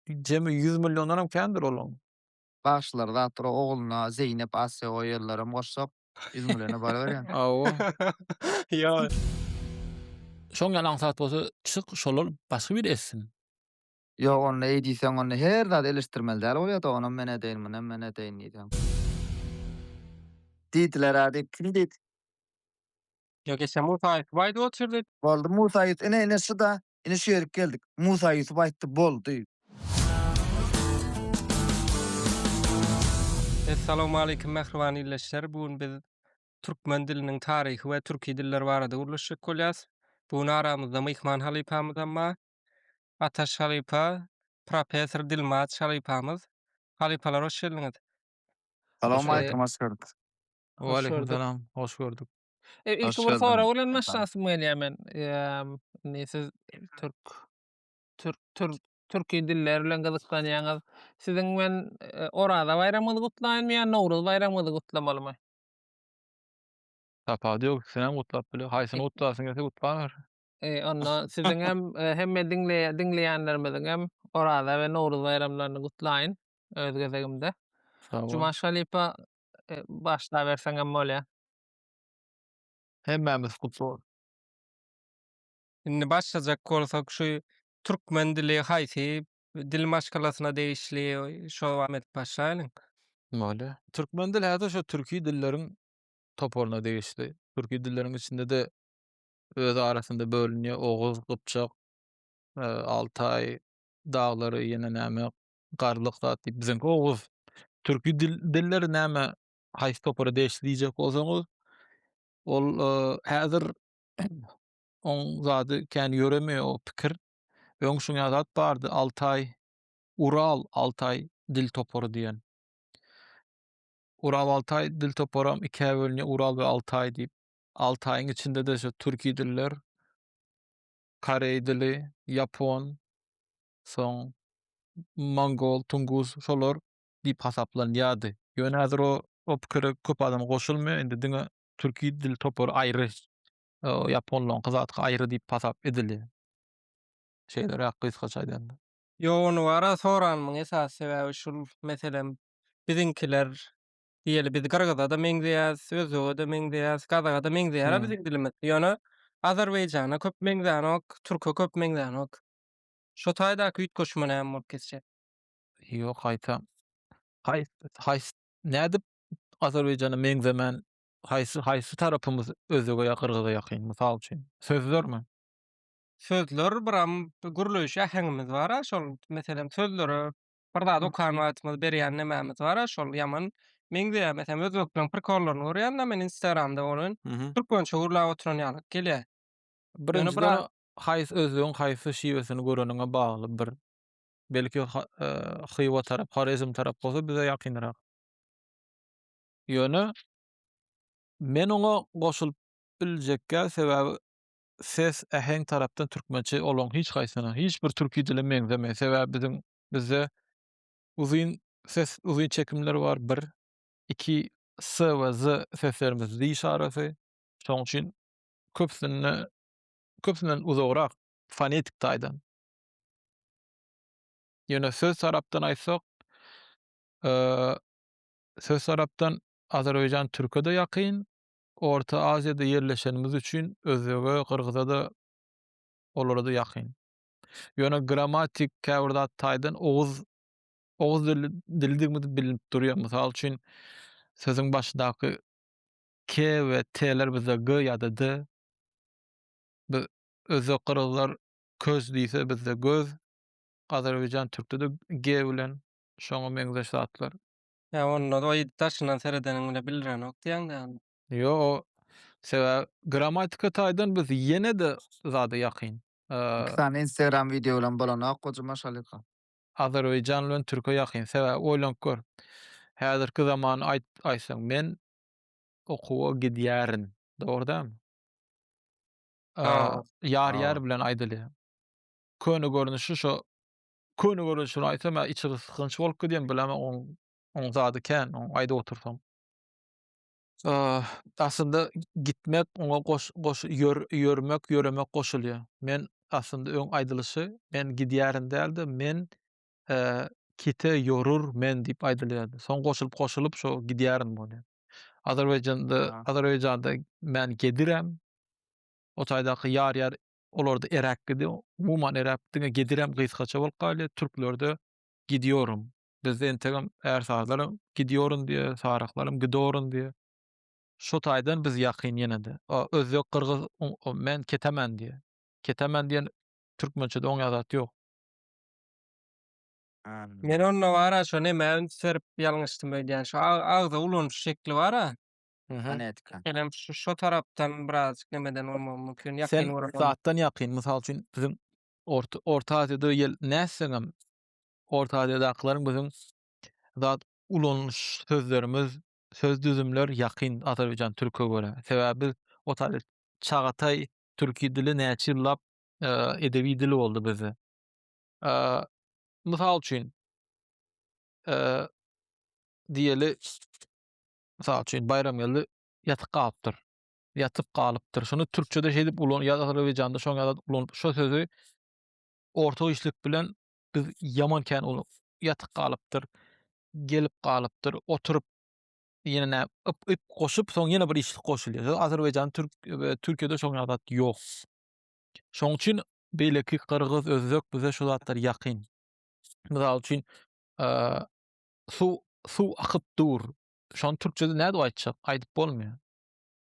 Jemi ýüz milliondanam kändir olaň. Bagşylar zatdyr ogluna Zeýnep Asýa goýýarlaram goşsak ýüz milliona baryberýän. Hawa. Ýoý. Şoň ýaly aňsat bolsa çyk şolal başga biri etsin. Ýok onda eý diýseň onda her zady eleşdirmeli däl bolýada onam men edeýin munam men edeýin diýseň. Diýdilerä diýip kim diýdi. Ýok eşe Musa Ýusup aýdyp otyrdy. Boldy Musa Ýusup ine ine şuda ine şu ýerik geldik Musa Ýusup aýtdy boldy. Essalawmaleýkim mähriban ildeşler bu gün biz Türkmen diliniň taryhy we türki diller barada gürleşjek bolýas. Bu gün aramyzda myhman halypamyzam bar. Ataş halypa, professor Dilmaç halypamyz. Halypalar hoş geldiňiz. Salawmaleýkim hoş geldik. Waleýkimsalam, hoş gördük. E, ilki bir sorag bilen başlasym gelýär men. Indi siz türk türk türk türki diller bilen gyzyklanýaňyz. Siziň men e, Oraza baýramyňyzy gutlaýynmy ýa Nowruz baýramyňyzy gutlamalymy? Tapawudy ýok, ikisini hem gutlap biler. Haýsyny gutlasyň gelse gutlaber. E, onda siziň hem e, hemme diňleýä- diňleýänlerimiziň hem Oraza we Nowruz baýramlaryny gutlaýyn öz gezegimde. Sag bol. Jumaş halypa Başlaberseňem bolýa. Hemmämiz gutly bolsun. Indi başlajak bolsak şu türkmen dili haýsy dil maşgalasyna degişli şo wagt edip başlaýlyň. Bolýa. Türkmen dili häzir şo türki dilleriň toparyna degişli. Türki dilleriň içinde-de öz arasynda bölünýär, oguz, gypjak, altaý daglary, ýene näme, garlyk zat diýip biziňki oguz türki dil dilleri näme haýsy topara degişli diýjek bolsaňyz ol häzir oň zady kän ýöremeýär o pikir öň şuňa zat bardy altaý ural altaý dil topary diýen ural altaý dil toparam ikä bölünýär ural we altaý diýip altaýyň içinde-de şu türki diller koreý dili ýapon soň Mongol, Tunguz şolar diýip hasaplanýardy. Ýöne häzir o pikire köp adam goşulmaýar, indi diňe türki dil topary aýry, ýaponlaryňky zatky aýry diýip hasap edilýär. Şeýleräk gysgaça aýdanda. Ýok ony wara soranymyň esasy sebäbi şul, meselem, biziňkiler, diýeli biz gyrgyza-da meňzeýäs, özbege-de meňzeýäs, gazaga-da meňzeýär-ä biziň dilimiz, ýöne Azerbaýjana köp meňzänok, türke köp meňzänok. Şo taýdaky üýtgeşme näme bolup geçjek? Ýok gaýta. Haýsy haýsy nädip Azerbaýjana meňzemän haýsy haýsy tarapymyz özege ýa gyrgyza ýakyn mysal üçin sözlermi? Sözler biram gürleýiş äheňimiz bara şol meselem sözlere bir zat okan wagtymyz berýän nämämiz bara şol ýaman meňzeýär meselem özbekleriň prikollaryny görýända men instagramda bolýan türkmençe gürläp oturan ýaly gelýär. Ýöne bir Haýsy özlügiň haýsy şiwesini göreniňe bagly bir belki Hywa tarap Horezm tarap bolsa bize ýakynrak. Ýöne men oňa goşulyp biljekgä sebäbi ses äheň tarapdan türkmençe olaň hiç haýsyna hiç bir türki dile meňzemeýär sebäbi biziň bizde uzyn ses uzyn çekimler bar bir iki s we z seslerimiz diş arasy şoň üçin köpüsinde köpüsinden uzagrak fonetik taýdan. Ýöne söz tarapdan aýtsak, söz tarapdan Azerbaýjan türke-de ýakyn, Orta Aziýada ýerleşenimiz üçin özbege, gyrgyza-da, olara-da ýakyn. Ýöne grammatik käbir zat taýdan oguz oguz dilidigimizi bilip durýar. Mysal üçin, sözüň başydaky K we T-ler bizde G ýa-da D. Biz özbek gyrgyzlar köz diýse bizde göz. Azerbaýjan türkde-de G bilen şoňa meňzeş zatlar. Ýa onda oý daşyndan seredeniň bile bilrenok diýäňdä ony. Ýo o sebäbi gramatika taýdan biz ýene-de zada ýakyn. Iki sany instagram wideo bilen bolanok goja maşalyka. Azerbaýjan bilen türke ýakyn sebäbi oýlanyp gör. Häzirki zaman aýt aýtsaň men Okuwa gidýärin. Dogry dälmi? Dogry. Ýar ýar bilen aýdylýar. Köne görnüşi şo köne görnüşini aýtsam ýa içi gysgynç bolup gidýän bilemok oň oň zady kän oň aýdyp otursam. Aslynda gitmek oňa goş goş ýör ýörmek ýöremek goşulýar. Men aslynda öň aýdylyşy men gidýärin däl-de men kite ýorur men diýip aýdylýardy. Soň goşulyp goşulyp şo gidýärin bony. Azerbaýjanda, Azerbaýjanda men gedirem. O taýdaky ýar ýar olarda eräk gidi. Umuman eräk diňe gedirem gysgaça bolup galýar. Türklerde gidýorum. Bizde entegem ärsazlaram gidýorum diýe, saryklaram gidorum diýe. Şo taýdan biz ýakyn ýene-de. Özbek, gyrgyz men ketemen diýe. Ketemen diýen türkmençede oňa zat ýok. Men onda bara şo nämä üns berip ýalňyşdym öýdýän şo agza ulanyş şekli bara. Fonetika. Enem şo tarapdan birazajyk nemeden bolmagym mümkin ýakyn göremem. Sen zatdan ýakyn mysal üçin biziň orta aziýada ýel nätseňem orta aziýadakylaryň biziň zat ulanyş sözlerimiz söz düzümler ýakyn azerbaýjan türke görä sebäbi biz otaýda çagataý türki dili näçe ýyllap edebi dil boldy bizde. Mysal üçin, diýeli, mysal üçin, Baýramgeldi ýatyp galypdyr. Ýatyp galypdyr. Şuny türkçede şeýdip ulan, ýa azerbaýjanda şoňa ýazyp ulan, şu sözi orta işlik bilen biz ýaman kän ulan. Ýatyp galypdyr, gelip galypdyr, oturyp, ýene nä, yp, yp goşup, soň ýene bir işlik goşulýar. Ýöne azerbaýjanda, türk, türkçede şoňa zat ýok. Şoň üçin beýleki gyrgyz, özbek bize şu zatlar ýakyn. Mysal üçin, suw suw akyp dur. Şony türkçede nädip aýtjak? Aýdyp bolmaýar.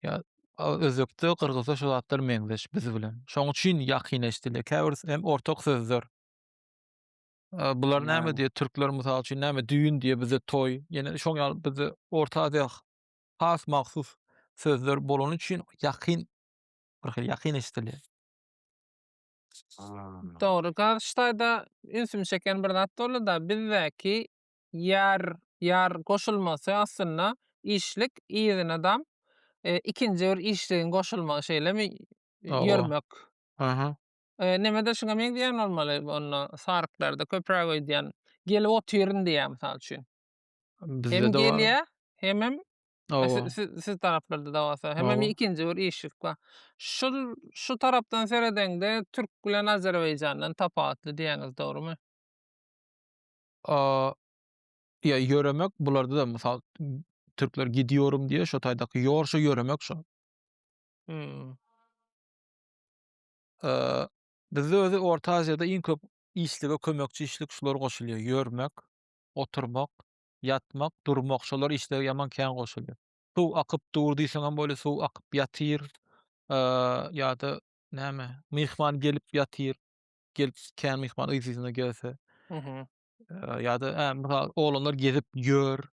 Ýa özbekde, gyrgyzda şu zatlar meňzeş biz bilen. Şoň üçin ýakyn eşdilýär. Käbir hem ortak sözler. Bular näme diýýär? Türkler mysal üçin näme düýn diýýär, bizde toý. Ýene şoň ýaly bizde Orta Aziýa has mahsus sözler bolany üçin ýakyn bir hili ýakyn eşidilýär. Dogry Garryş daýza ünsümi çeken bir zat boldy-da, bizdäki ýar ýar goşulmasy aslynda işlik yzynadam ikinji bir işligiň goşulmagy şeýlemi ýörmek. Aha. Nemede şuňa meňzeýän bolmaly onda saryklarda köpräk öýdýän gelip otyryn diýýär mysal üçin. Hem gelýär hemem Siz, siz, siz taraplarda da bolsa. Hem hem ikinji bir işlik bar. Şu, şu tarapdan seredeňde Türk bilen Azerbaycandan tapawutly diýäňiz, dogrymy? Aa, ya yöremek bularda da misal Türkler gidiyorum diye şu taýdaky yorşa yöremek şu. Hmm. Ee, bizde özü Orta Aziyada iň köp işlige kömekçi işlik şular goşulýar. Yörmek, oturmak, ýatmak, durmak, şolar işlere ýaman kän goşulýar. Suw akyp dur diýseňem bolýar, suw akyp ýatyr, ýa-da näme, myhman gelip ýatyr, gelip kän myhman yz-yzyna gelse, ýa-da, hä, mysal, oglanlar gezip ýör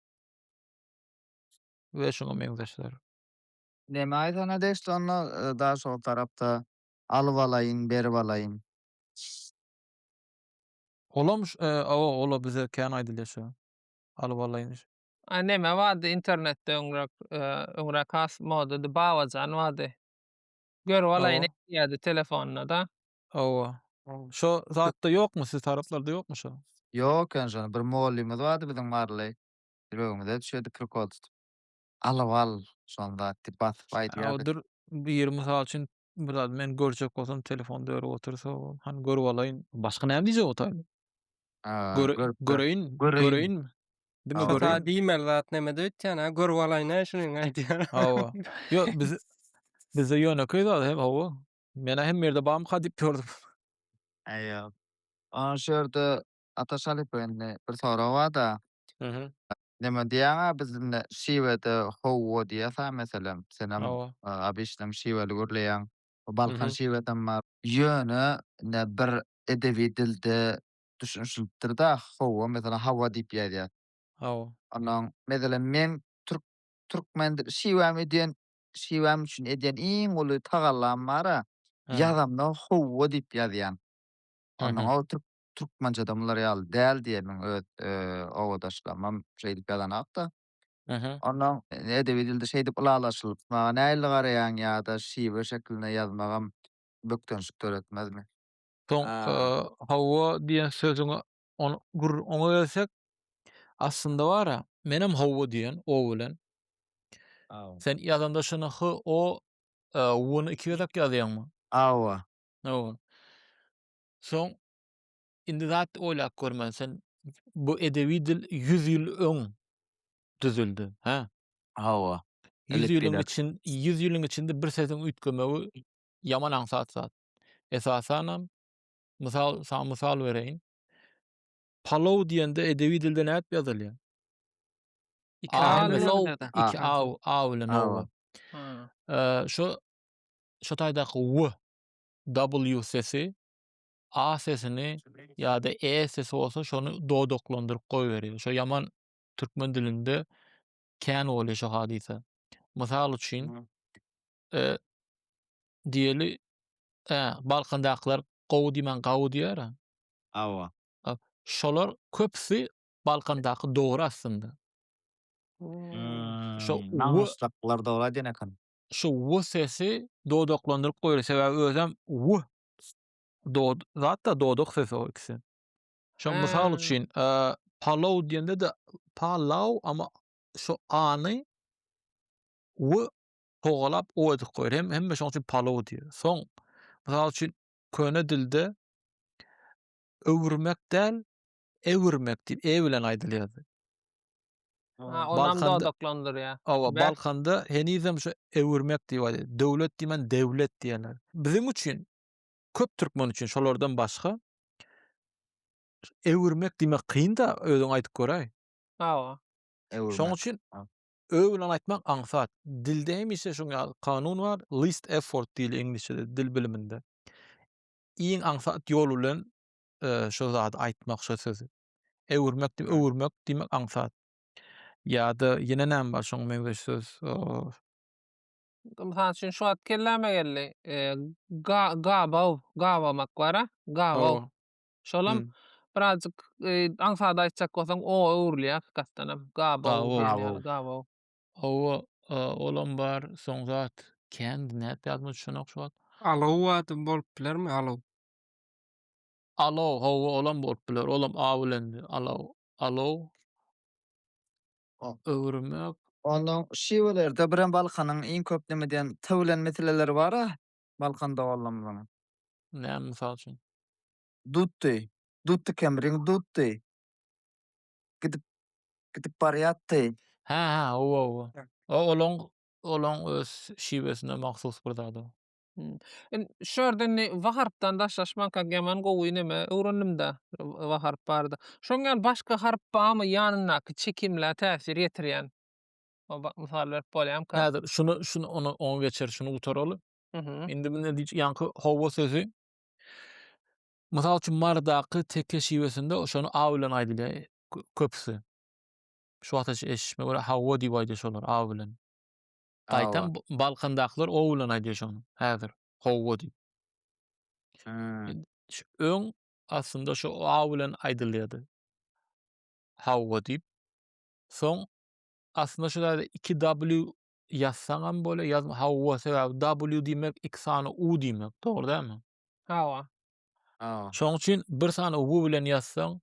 we şuňa meňzeşler. Näme aýdana degişli onda daşoguz tarapda, alyp alaýyn, berip alaýyn? Olam ş awa ola bize kän aýdylýa şo alyp alaýyn. A neme bardy internetde öňräk öňräk has modady babajan bardy. Görüp alaýyn Awa. edýärdi telefonynada. Awa. Şo zatda ýokmy siz taraplarda ýokmy şo. Ýok eken şony bir mollymyz bardy biziň Marley ýüregimize düşedi prikol tutup. Alyp al şony zat diýip basyp aýdýardy. Awa dur biri mysal üçin Bu zady men görjek bolsam telefonda örüp otursa o, hany görüp alaýyn. Başga näme diýjek otaýyn? Aa, Göre, görüp gör. göreýin, Göreýin. göreýinmi? Diňe Hawa. Şo göreýin. ta diýmeli zat nämede öýtýän-ä, görüp alaýyn-a şunyň aýdýan. Hawa. Ýok, biz bizde ýönekeý zat hem hawa. Men-ä hemme ýerde barmyka diýip ýördüm. Aýa. Ana şu ýerde Ata Şalypow indi bir sorag barda. Aha. Neme diýýäňä biz indi şiwede howwa diýýäsä meselem. Senem abyşlaň şiweli gürleýäň. Balkan şiwedem bar. Ýöne indi bir edebi dilde düşünişilipdirda howwa meselem hawa diýip ýazýar. Hawa. Onnoň meselem meň türk türkmen şiwäm edýän şiwäm üçin edýän iň uly tagallam bara ýazamda howwa diýip ýazýan. Onnoň o türk Türkmençede mular ýaly däl diýen meň öz obadaşlarymam şeýdip ýazanok-da. Aha. Onnoň edebi dilde şeýdip ylalaşylyp maňa nähili garaýaň ýa-da şiwe şeklinde ýazmagam bökdençlik döretmezmi? Soň hawa diýen sözüňe ony gür oňa gelsek, aslynda bar-a, menem hawa diýen o bilen. Aw. Sen ýazanda şuny h, o, w-ny iki gezek ýazýaňmy? Awa. Awa. Soň indi zat oýlap görmeli sen bu edebi dil ýüz ýyl öň düzüldi, hä? Hawa. Ýüz ýylyň için, ýüz ýylyň içinde bir sesiň üýtgemegi ýaman aňsat zat. Esasanam, mysal, saňa mysal bereýin. Palow diýende edebi dilde nädip ýazylýar? Iki a bilen Palow, nerede? iki A. a, a bilen Hawa. ow. Eee, şu şu taýdaky w w sesi, a sesini ýa-da e sesi bolsa şony dodaklandyryp goýberýär. Şo ýaman türkmen dilinde kän bolýar şu hadysa. Mysal üçin, e, diýeli, e, Balkandakylar gowy diýmän gawy diýer-ä. Hawa. Şolar köpüsi Balkandaky dogry aslynda. Şo w. Namyslyklalar dogry aýdýan eken. şu w sesi dodaklandyryp goýar. Sebäbi özem w dod zatda dodak sesi o ikisi. Şoň mysal Aa. üçin, e, palaw diýende-de palaw, amma şu a-ny w togalap o edip goýar. Hem hemme şoň üçin palaw diýer. Soň, mysal üçin, köne dilde öwürmek däl, Ewürmek diýip e bilen aýdylýardy. Ha, onam Balkanda- dodaklandyrýar. Awa, Bäh. Balkanda henizem şu ewürmek diýip aýdýar. Döwlet diýmän dewlet diýýärler. Biziň üçin, köp türkmen üçin şolardan başga ewürmek diýmek kyn-da, özüň aýdyp göräý. Awa. Ewürmek. Şoň üçin Ha. ö bilen aýtmak aňsat. Dilde hemişe şuň ýaly kanun bar, least effort diýilýär iňlisçede, dil biliminde. Iň aňsat ýol bilen şo zady aýtmak, şo sözi öwürmek diýip, öwürmek diýmek aňsat. Ýa-da ýene näme bar şoňa meňzeş söz? Mysal üçin, şu wagt kelläme geldi. Gabaw, gabamak bar-a, gabaw. Şolam birazjyk aňsat aýtjak bolsaň, o öwrülýär hakykatdanam. Gabaw, gabaw. Hawa, olam bar. Soň zat kän, nädip ýadyma düşenok şu wagt. Alaw ady bolup bilermi, alaw? Alow, hawa olam bolup biler, olam a bilendi. Alow, alow. Öwürmek. Ondan şiwelerde birem Balkanyň iň köp neme diýen t bilen meseleleri bar-a, Balkan doganlarymyzyň. Näme mysal üçin? Dutdy, dutdy kemriň dutdy. Gidip, gidip barýatdy. Hä-hä, hawa, hawa. O olaň, olaň öz şiwesine mahsus bir zad o. Hımm. Ün şu ýerde indi w harpdan daşlaşmanka ýaman gowy neme öwrendim-de w w harp barada. Şoň ýaly başga harp barmy ýanyndaky çekimlä täsir ýetirýän? O ba mysal berip bolýamyka? Häzir şuny şuny ony oňa geçer şuny gutaraly. Mhm. Indi bu ne diýjek ýaňky howwa sözi mysal üçin marydaky teke şiwesinde o şony a bilen aýdylýar kö köpüsi. Şu wagtaça eşitmişime görä hawwa diýip aýdýar şolar a bilen. Gaýtam Balkandakylar o bilen aýdýar şony häzir howwa diýip. Öň aslynda şu a bilen aýdylýardy. Howwa diýip. Soň aslynda şu ýerde 2 w ýazsaň hem bolýar, ýazma howwa sebäbi w diýmek iki sany u diýmek, dogry dälmi? Hawa. Hawa. Şoň üçin bir sany u bilen ýazsaň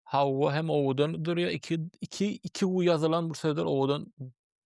howwa hem owadan durýar, iki iki iki u ýazylan bir sözler owadan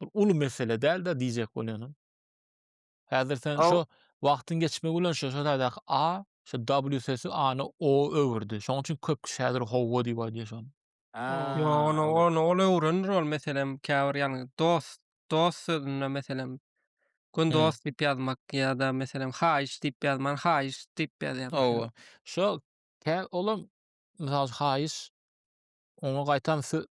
bir uly mesele däl-de diýjek bolýanym. Häzir sen Aw. şo wagtyň geçmegi bilen şo şo taýdaky A, şo W sesi A-ny O öwürdi. Şonuň üçin köp kişi häzir howwa diýip aýdýar şony. Ýok, Aa, ony ol- ony ol öwrenir ol meselem käbir ýalňy dost, dost sözünde meselem gün Hmm. dost diýip ýazmak ýa-da meselem haýyş diýip ýazman haýyş diýip ýazýar. meselem. Howwa. Şo kä olam mysal üçin haýyş oňa gaýtam sö-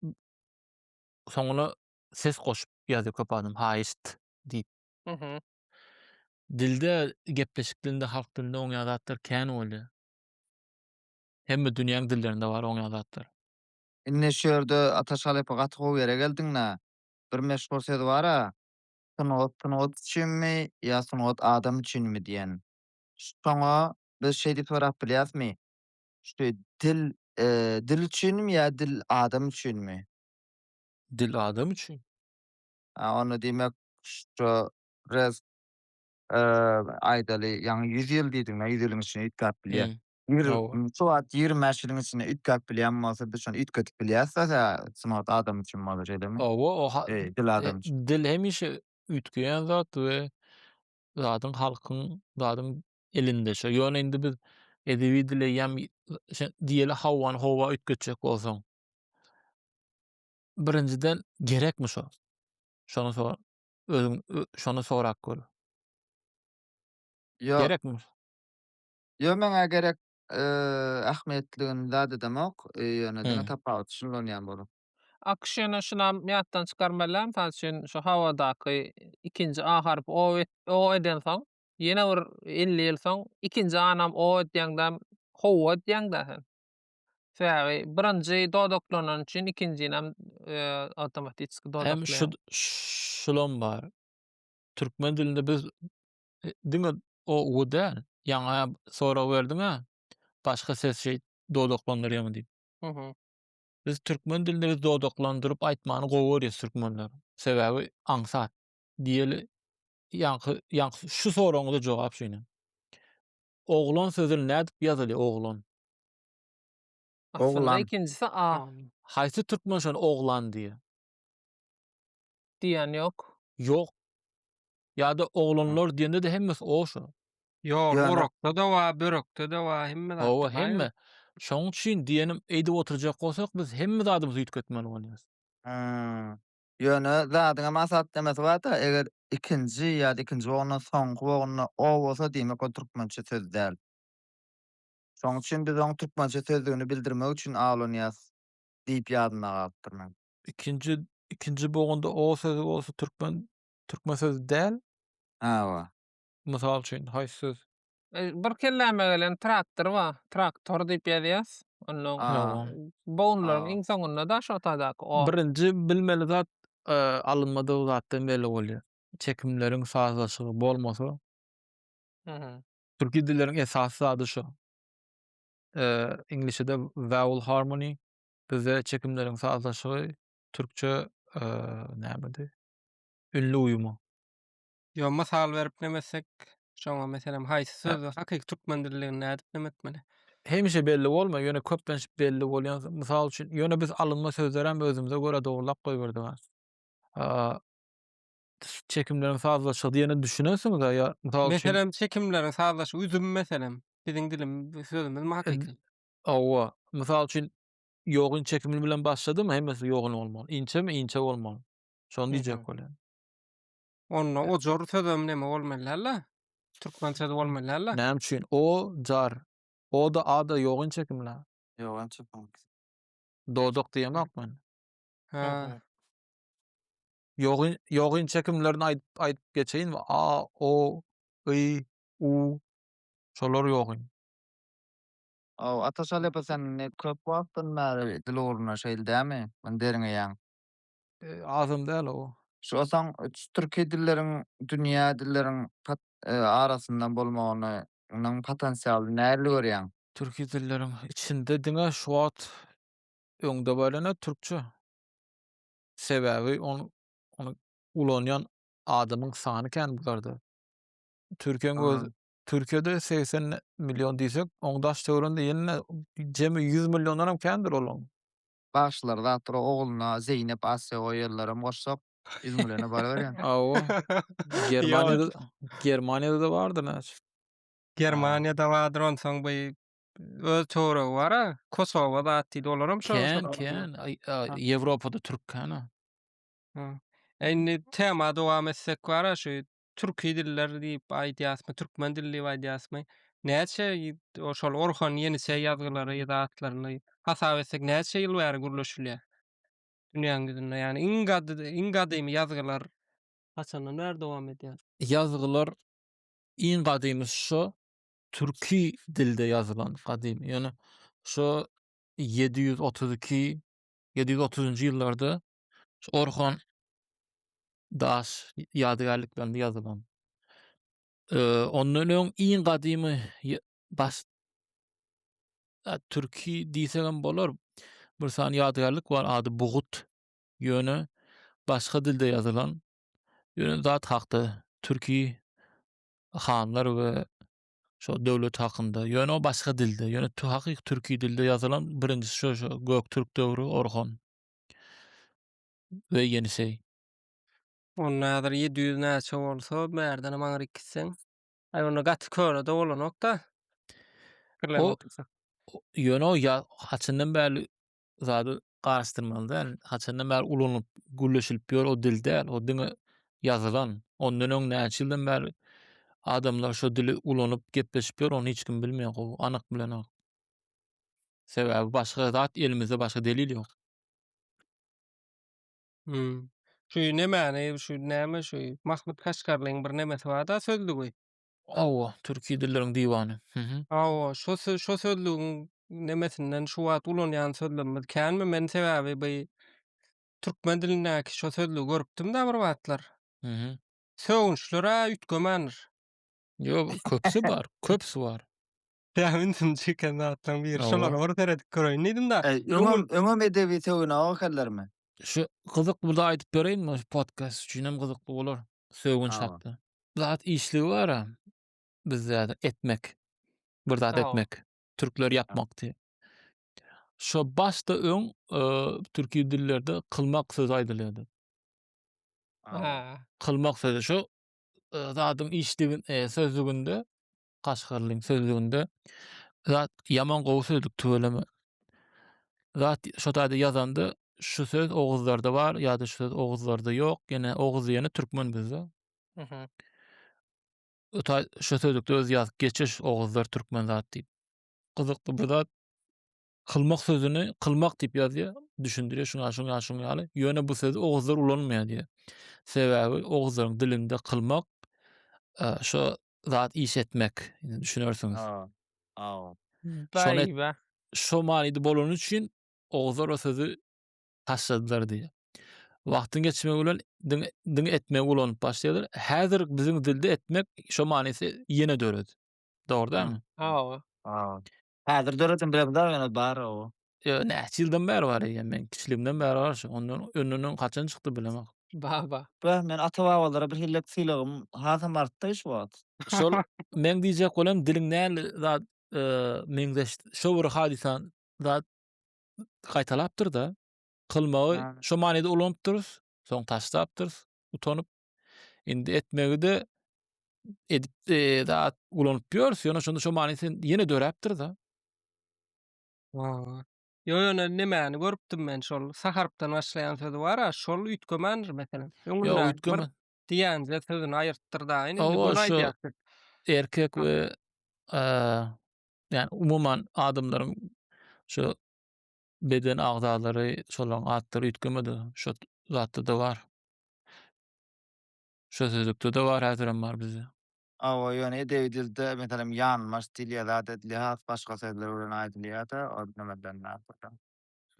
soňuna ses goşup ýazýa köp adam haýyşt diýip. Mhm. Dilde gepleşik dilinde halk dilinde oňýa zatlar kän bolýa. Hemme dünýäň dillerinde bar oňýa zatlar. Indi şu ýerde Ataş halypa gaty gowy ýere geldiňda. Bir meşhur söz bara. Sungat sungat üçinmi ýa sungat adam üçinmi diýen. Şoňa biz şeý diýip sorap bilýäsmi? Şu dil dil üçinmi ýa dil adam üçinmi? Dil adam üçin. Ha, onda diýmek şu res eee, aýdaly, ýaňy 100 ýyl diýdiň-ä, 100 ýylyň içinde üýtgäp bilýär. Hı. Ýigrimi, Hawa. şu wagt 25 ýylyň içinde üýtgäp bilýän bolsa, biz şony üýtgedip bilýäs-dä, tä sungat adam üçin bolar, şeýlemi? Hawa, o ha- Eee, dil adam üçin. e, dil hemişe üýtgeýän zat we zadyň halkyň, zadyň elinde şu. Ýöne indi biz edebi dil eýýäm, şe- diýeli, howany howa üýtgetjek bolsaň, Birinjiden gerekmi şo? Şony sor. Özüň şony sorap gör. Ýok. Gerekmi? Ýok, meňä gerek ähmiýetligini zat edemok. Ýöne diňe tapawuty şunda onýan bolup. Akyş ýöne şunam ýatdan çykarmalyam, mysal üçin şu hawadaky ikinji a harpy o et, o edensoň, ýene bir elli ýyl soň ikinji anam o edýäňdäm, howa edýäňdä sen. Sebäbi birinji dodaklanan üçin ikinjinem awtomatiki dodaklaýar. Hem şulam bar. Türkmen dilinde biz diňe o u däl. Ýaňa sorag berdiňä başga ses şeýt dodaklandyrýarmy diýip. Biz türkmen dilinde biz dodaklandyryp aýtmany gowy görýäs türkmenler. Sebäbi aňsat. Diýeli ýaňky ýaňky şu soragyňyza jogap şeýle. Oglan sözül nädip ýazyly oglan. Aslynda ikinjisi a. Haýsy türkmen şony oglan diýýä. Diýen ýok. Ýok. Ýada oglanlar diýende-de hemmesi o şo. Ýok orakda-da ba börekde-de ba hemme zatda ba. Hawa hemme. Şoň üçin diýenim eýdip oturjak bolsak biz hemme zadymyzy üýtgetmeli bolýas. Ýöne zadyň hem asatlemesi bar-da, eger ikinji ýa-da ikinji bogundan soňky bogunda o bolsa, diýmek ol türkmençe söz däl. Şonuň üçin biz oň türkmençe sözdigini bildirmek üçin awlanýas diýip ýadymda galypdyr meň. Ikinji ikinji bogunda o sözi bolsa türkmen türkmen sözi däl? Hawa. Mysal üçin, haýsy söz? Bir kelläme gelen traktor bar. Traktor diýip ýazýas. Onda bownlaryň iň soňunda daş otadaky o. Birinji bilmeli zat alynmadygy zatdan belli bolýar. Çekimleriň sazlaşygy bolmasa. Türki dilleriň esasy zady şo. Iňlisçede vowel harmony, bizde çekimleriň sazlaşygy, türkçe nämedi? Ünli uýumy. Yo mysal berip näme etsek, şoňa meselem haýsy söz hakyky türkmen dilinde nädip näme etmeli? Hemişe belli bolmaý, ýöne köplenç belli bolýan söz. Mysal üçin, ýöne biz alynma sözleri hem özümize görä dogrulap goýberdik ha. Çekimleriň sazlaşygy diýene düşünensiňiz-ä ýa mysal üçin. Meselem çekimleriň sazlaşygy üzüm meselem biziň dilimiz sözümizmi hakyky? Hawa, mysal üçin ýogyn çekimi bilen başladymy hemmesi ýogyn bolmaly. Inçemi inçe bolmaly. Şony diýjek bolýan. Onda ojar sözem neme bolmaly däl-le? Türkmen sözi bolmaly däl-le? Näme üçin? O, jar. O-da, a-da ýok inçe kimle? Ýok inçe kim. Dodak diýemok men. Hä. Ýok, ýok inçe kimlerini aýdyp, aýdyp geçeýinmi? A, o, y, u. Şolar ýok in. Hawa, Ataşaly epe sen indi köp wagtdan bäri dil ugrunda şeýle dämi? Muny derňeýäň. azam däl o. Şosaň türki dilleriň dünýä dilleriň arasynda bolmagyny nyň potensialy nähili görýäň? Türki dilleriň içinde diňe şu wagt öňde barene türkçe. Sebäbi ony ony ulanýan adamyň sany kän bularda. Türkiýäň öz Türkiýede segsen million diýsek oň daş töwerinde ýene jemi ýüz milliondanam kändir olaň. Bagşylar zatdyr-ow ogluna Zeýnep Asýa goýýarlaram goşsak. Ýüzüň bilen-ä baryberýän. Hawa. Germaniýada Ýok. Germaniýada-da bardyr näçe. Germaniýada bardyr onsoň bu öz töweregi bar-a. Kosowa zat diýdi. Olaram şo. Kän, kän. Ýewropada türk kän-a. Indi tema dowam etsek bar-a şu türki diller diýip aýdýasmy, türkmen dili diýip aýdýasmy? Näçe şol Orhon Ýeniçe ýazgylary ýa-da atlaryny hasap etsek näçe ýyl bäri gürleşilýär? Dünýäň ýüzünde, ýagny iň gadymy, iň gadymy ýazgylar haçandan bäri dowam edýär? Ýazgylar iň gadymy şo türki dilde ýazylan gadymy, ýöne şo ýedi ýüz otuz iki, ýedi ýüz otuzynjy ýyllarda Şu Orhon daş ýadygärliklerinde ýazylan. Ee, ondan öň iň gadymy baş türki diýsek hem bolar. Bir sany ýadygärlik bar, ady Bugut. Ýöne başga dilde ýazylan. Ýöne zat hakda türki hanlar we şo döwlet hakynda. Ýöne o başga dilde. Ýöne hakyky türki dilde ýazylan birinjisi şo Göktürk döwri Orhon. we ýeniseý. Onda häzir ýedi ýüz näçe bolsa bärdenem aňryk gitseň. Aý onda gaty köne-de bolanok-da. Pikirlenip otursak. Ýöne o ýa haçandan bäri zady garaşdyrmaly däl. Haçandan bäri ulanylyp, gürleşilip ýör o dil däl. O diňe ýazylan. Ondan öň näçe ýyldan bäri adamlar şo dili ulanyp gepleşip ýör ony hiç kim bilmeýär gowy, anyk bilenok. Sebäbi başga zat elimizde başga delil ýok. Hmm. Şu nemäni, şu näme şu Mahmut Kaşgarlyň bir nemesi bar-da sözlügi. Hawa, türki dilleriň diwany. Mhm. Hawa, şo sö- şo sözlügiň nemesinden şu wagt ulanýan sözlemimiz känmi? Men sebäbi bu türkmen dilindäki şo sözlügi görüpdim-de bir wagtlar. Mhm. Sögünçler-ä üýtgemändr. Ýok, köpüsi bar, köpüsi bar. Ýa ünsümi çeken zatlaryň biri şolara bir seredip göreýin diýdim-de. Öňem, öňem edebi sögüne ok ekenlermi? Şu gyzykly bir zat aýdyp bereýinmi? Şu podkast üçin hem gyzykly bolar. Sögünç hakda. Zat işligi bar-a bizde etmek. Bir zat etmek. Türkler ýapmak diýip. Şo başda öň türki dillerde kylmak sözi aýdylýardy. Kylmak sözi şo zadyň işligin, sözlüginde Kaşgarlyň sözlüginde zat ýaman gowy sözlük tüweleme. Zat şo taýda ýazanda şu söz oguzlarda bar ýa-da şu söz oguzlarda ýok. Ýene oguz diýeni türkmen bizde. Mhm. Öta şu sözlükde öz ýazyp geçiş oguzlar türkmen zat diýip. Gyzykly bir zat. Kylmak sözüni kylmak diýip ýazýar, düşündirýär şuňa şuňa şuň ýaly. Ýöne bu sözi oguzlar ulanmaýar diýýär. Sebäbi oguzlaryň dilinde kylmak e, şo zat iş etmek, düşünersiňiz. Aw. Aw. Daýyba. Şo manyda bolany üçin oguzlar o sözi taşladylar diýýär. Wagtyň geçmegi bilen diň, diň etmegi ulanyp başlaýarlar. Häzir biziň dilde etmek şo manysy ýene döredi. Dogry dälmi? Aw. Aw. Häzir döredin bilemizar ýöne bar o. Ýöne näçe ýyldan bäri bar eýýäm men kiçiligimden bäri bar şu ondan öňünden haçan çykdy bilemok. Baba. Beh men ata babalara bir hellek sylagym hasam artdy şu wagt. Şol meň diýjek bolam diliň näli zat meňzeş şo bir hadysa zat gaýtalapdyrda kylmagy şo manyda ulanypdyrys soň taşlapdyrys utanyp Indi etmegide edip e, zat ulanyp ýörüs, ýöne şonda şu many sen ýene döräpdir-de. Aa. Yo yo ne- nemäni görüpdim men şol saharpdan başlaýan sözi bar a şol üýtgemändir meselem. Ýok, Öňünden bir üýtgeme. diýenje sözüni aýyrtdyr da indi Hawa, bunu şu- aýdýar. siz. Erkek we e, ýa umuman adamlaryň şu beden agzalary şolaryň atlary üýtgemedi. Şu zatda-da bar. Şo sözlükde-de bar, häzirem bar bizde. Hawa, ýöne edebi dilde, meselem, ýanmaç dil ýa zat edilýär, has başga sözler bilen aýdylýar-da, ol nämeden däl bolsa.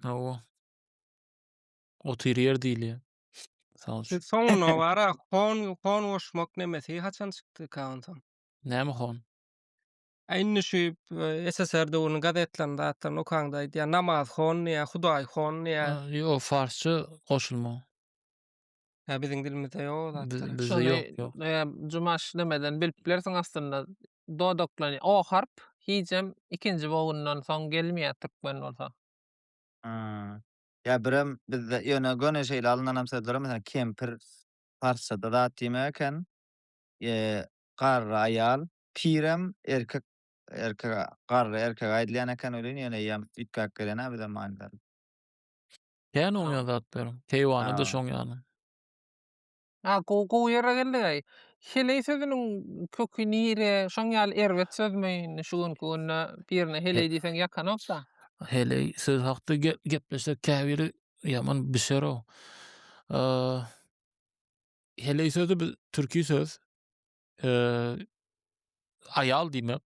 Hawa. Otyryýer diýilýär, mysal üçin. Siz soňuna bara hon, hon goşmak nemesi haçan çykdy Kaganjan? Näme hon? A indi şu SSR döwrüniň gazetleriniň zatlaryny okaňda aýdýar, namaz hon diýýär, Hudaý hon diýýär. Ýok, farsça goşulma. Ýa biziň dilimizde ýok o zatlar. Biz- bizde ýok, ýok. Ýa Jumaş demeden bilip bilersiň aslynda. Dodaklany o harp hijem ikinji bogyndan soň gelmeýär türkmen bolsa. Ha. Ýa birem bizde ýöne göni şeýle alynanam sözler bar, meselem, kempir parsçada zat diýmek eken. Eee, garry aýal, pirem erkek, erkege, garry erkege aýdylýan eken welin ýöne eýýäm üýtgäp gelen-ä bize manylar. Kän oňýan zatlar. Keýwany-da Ha. şoň ýaly. Ha, gowy, gowy ýere geldiňaý. Heleý sözüniň köki nire? Şoň ýaly erbet sözmi? Indi şu günki günde birine heleý diýseň ýakanok-da. Heleý söz hakda ge- gepleşsek käbiri ýaman bişer-ow. Eee, heleý sözi biz türki söz. Eee, aýal diýmek,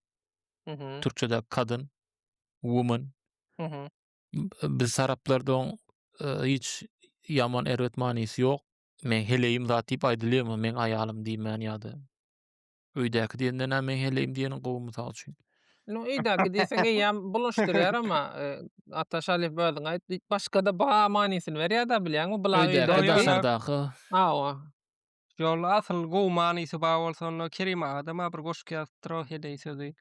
Mhm, türkçedäki kadın, woman. mhm. biz taraplardan hiç ýaman erbet manysy ýok. Men heleýim zat diýip aýdylýarmy? Men aýalym diýmän ýa-da öýdäki diýenden näme men heleýim diýeniň gowy mysal üçin. No öýdäki diýseň eýýäm bulaşdyrýar ama Ata Şalyýew özüň aýt diýip başga-da ba manysyny berýär-de bilýäňmi? Bula öýdäki. Hawa. Ýol asyl gowy manysy bar bolsa onda Kerim aga-da bir goşgy ýazypdyr o heleý sözi.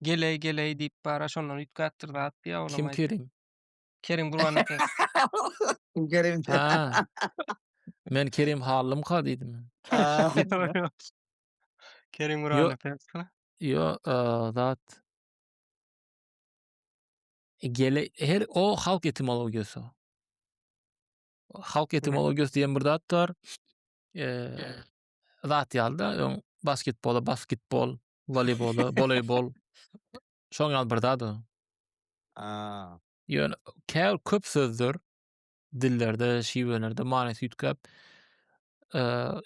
Geleý geleý diýip bara şondan üýtgäpdir zat diýýä olam. Kim Kerim? Kerim Gurban aka. Kim Kerim? Ha. Men Kerim Hallymka diýdim. Kerim Gurban aka. Ýo, zat. Gele her o halk etimologiýasy. Halk etimologiýasy diýen bir zat bar. Eee zat ýalyda öň basketbola basketbol Voleybolda, voleybol. Şoň ýaly bir zat o. Aa. Ýöne käbir köp sözler dillerde, şiwelerde manysy üýtgäp, e,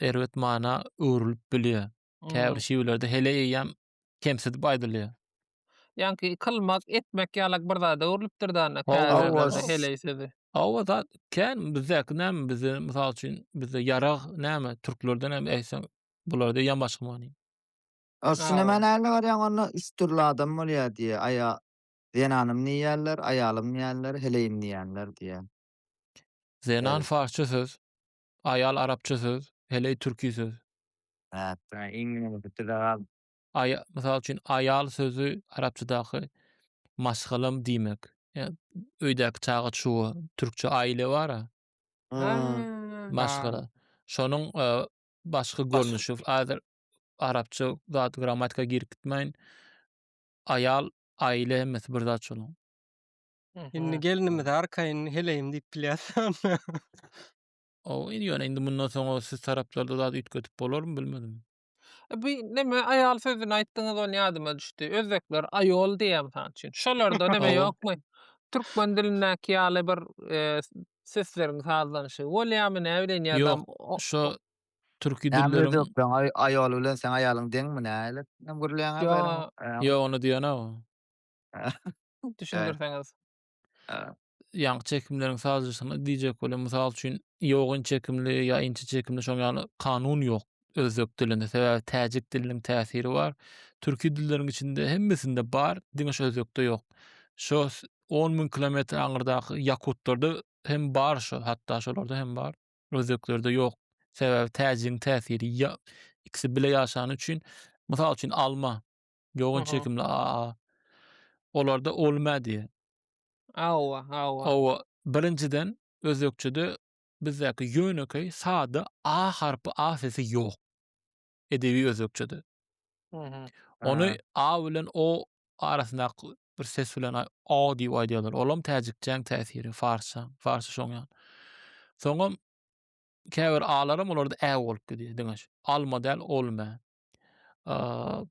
erbet mana öwrülip bilýär. Käbir şiwelerde hele eýýäm kemsidip aýdylýar. Ýaňky kylmak, etmek ýalak bir zada öwrülipdir dana Hawa, käbir hawa. ýerlerde heleý sözi. Hawa zat kän bizdäki näme bizde mysal üçin bizde ýarag näme türklerde näme eýsem bularda eýýäm başga many. Aslynda Hawa. men älne garýan onda üç dürli adam bolýar diýýär. Aýa zenanym diýýärler, aýalym diýýärler, heleýim diýýänler diýýär. Zenan Ýeri. farsça söz, aýal arapça söz, heleý türki söz. Näet. Hä, iň ýomşy bize galdy. Aýa, mysal üçin, aýal sözi arapçadaky maşgalam diýmek. Ýa öýdäki çaga-çuga, türkçe aýle bar-a, Hä, Hä. bar. maşgala. Şonuň e, başga Başga. görnüşi. Häzir arapça zat grammatika girip gitmeýin. Aýal, aýle hemmesi bir zat şonuň. Indi gelnimize arkaýyn heleýim diýip bilýäs. O ýöne indi mundan soň o siz taraplarda zat üýtgedip bolarmy bilmedim. E, Bu neme aýal sözüni aýtdyňyz ony ýadyma düşdi. Özbekler aýol diýýär mysal üçin. Şolarda neme Hawa. ýokmy? Türkmen dilindäki ýaly bir e, sesleriň sazlanyşy bolýarmy näbileýin ýa-da Ýok, o- Şo Türki Näme dilleriň öýdüpdiň aý aýol bilen seň aýalyň deňmi nälik hem gürleýäňä Ýo beýle ýa ýok ony diýenok. Şaýy. Düşündirseňiz. Hä. Ýaňky çekimleriň sazlaşygyna diýjek bolýan mysal üçin ýogyn çekimli ýa inçe çekimli şoň ýaly kanun ýok özbek dilinde sebäbi täjik diliniň täsiri bar. Türki dilleriň içinde hemmesinde bar diňe şu özbekde ýok. Şo s- on müň kilometr aňyrdaky ýakutlarda hem bar şo hatda şolarda hem bar. Özbeklerde ýok. Sebäbi täjigiň täsiri ýa ikisi bile ýaşany üçin. Mysal üçin alma. Ýogyn Aha. çekimli AA. Olarda olma diýýär. Awa, awa. Hawa, birinjiden özbekçede bizdäki ýönekeý sada A harpy A sesi ýok. edebi özbekçede. Ony a bilen o arasyndaky bir ses bilen a diýip aýdýarlar. Olam täjikçäň täsiri, farsça, farsça şoň ýaly. Soňam käbir alaram olarda ä bolup gidýär diňe şu. Alma däl, olma.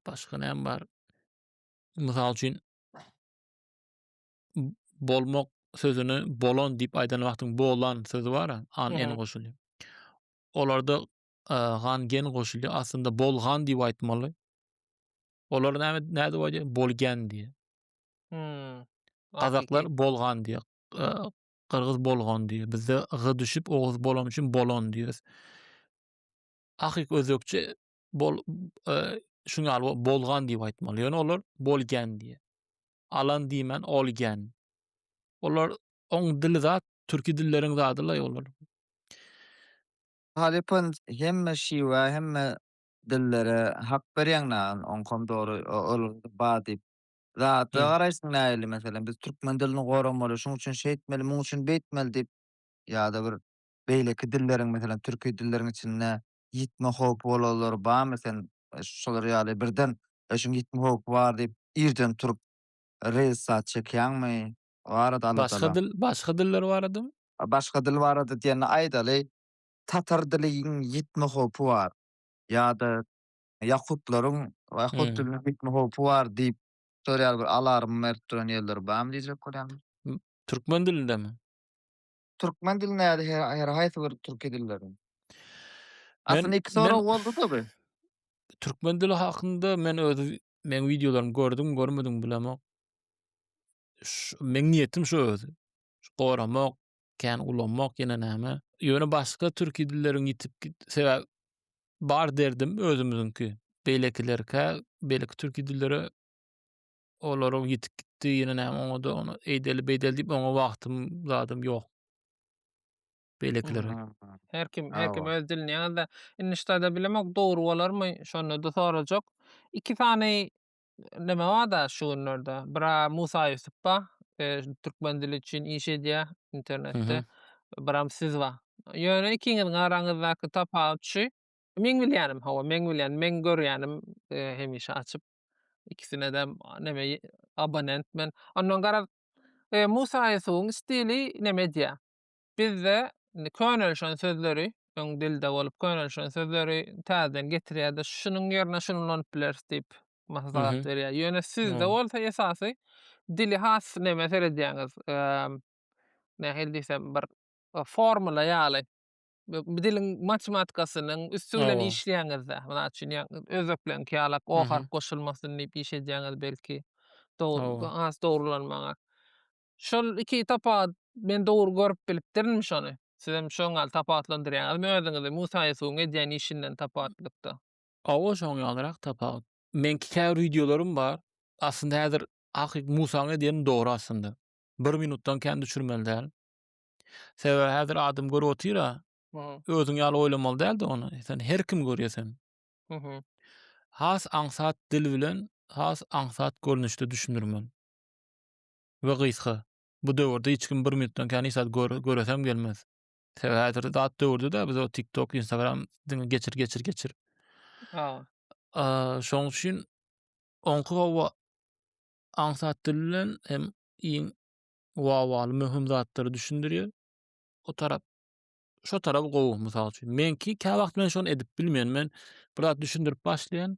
Başga näme bar? Mysal üçin bolmak sözüni bolan diýip aýdan wagtyň bolan sözi bar-a, an, en goşulýar. Olarda gan gen goşulýar. Aslynda bolgan diýip aýtmaly. Olar näme nädip dip aýdýar? Bolgan diýýär. Hmm. Gazaklar bolgan diýýär. Gyrgyz bolgan diýýär. Bizde g düşüp oguz bolan üçin bolon diýýäs. Ahyk özbekçe bol e, şuň ýaly bolgan diýip aýtmaly. Ýöne olar bolgan diýýär. Alan diýmän olgan. Olar oň dili zat türki dilleriň zadylaý olar. Halypam hemme şiwa hemme dillere hak berýäň nägin oňkam dogry ol ba diýip zada Ýa. garaýsyň nähili meselem biz türkmen dilini goramaly şuň üçin şeýtmeli muň üçin beýtmeli diýip ýada bir beýleki dilleriň meselem türki dilleriň içinde ýitme howpy bolanlary barmy sen şolar ýaly birden öçüň ýitme howpy bar diýip irden turup reýlsat çekýäňmi Barada anlatana. Başga dil, başga diller baradamy? Başga dil barada diýende aýdaly, tatar diliniň ýitme howpy bar ýa-da ýakutlaryň ýakut diliniň ýitme howpy bar diýip soraýar bir alarm berip duran ýerleri barmy diýjek bolýan. Türkmen dilindemi? Türkmen dil näde her haýsy bir türki dilleriň? Aslynda iki sorag boldy-da bu. Türkmen dili hakynda men öz meň wideolarymy gördüň görmediň bilemok. Meň niýetim şu öz. Goramak, kän ulanmak ýene näme. Ýöne başga türki dilleriň ýitip git sebäp bar derdim özümiziňki. Beýlekilerkä, beýleki türki dillere olaryň ýitip gitdi, ýene näme oňa-da ony eýdeli-beýdeli diýip oňa wagtym, zadym ýok. Beýlekilere. Her kim, her kim öz dilini ýaňyz-da. Indi ştada bilemok, dogry bolarmy, şonda-da sorajak. Iki sany neme bar-da şu günlerde. Biri Musa Ýusup bar, türkmen dili üçin iş edýär internetde. Biram siz bar. Ýöne ikiňiziň araňyzdaky tapawut şu, meň bilýänim, hawa, meň bilýänim, meň görýänim hemişe açyp, İkisinede neme abonent men. Ondan garaz e, Musa Ýusubyň stili neme edýär? Bizde könelişen sözleri öň dilde bolup könelişen sözleri täzeden getirýärdi. Şunuň ýerine şuny ulanyp bileris diýip maslahat mhm. berýär. Ýöne sizde mhm. bolsa esasy dili has neme seredýäňiz? Nähili diýsem bir e, formula ýaly. bu diliň matematikasynyň üsti bilen Hawa. işleýäňiz-dä. Mysal üçin, ýa özbeklerňki ýalak o Mhm. harp goşulmasyn diýip iş edýäňiz belki. Dogry, Hawa. has dogrulanmaga. Şol iki tapagat men dogry görüp bilipdirinmi şony? Sizem şoň ýaly tapawutlandyrýaňyzmy özüňizi Musa Ýusubyň edýän işinden tapawutlykda? Hawa, şoň ýalyrak tapawut. Meňki käbir wideolarym bar. Aslynda häzir hakyky Musaň edýänini dogry aslynda. Bir minutdan kän düşürmeli däl. Sebäbi häzir adam görüp otyr-a, özüň ýaly oýlamaly däldi ony. Sen her kim görýär sen. Has aňsat dil bilen, has aňsat görnüşde düşündirmeli. We gysga. Bu döwürde hiç kim bir minutdan kän hiç zat göresem gelmez. Sebäbi häzirki zat döwürde-de biz o TikTok, Instagram diňe geçir, geçir, geçir. Şonuň üçin oňky hawa aňsat dil bilen hem iň wawaly möhüm zatlary düşündirýär. O tarap şu tarap gowy mysal üçin. Meňki kä wagt men şony edip bilmeýän. Men bir zat düşündirip başlaýan.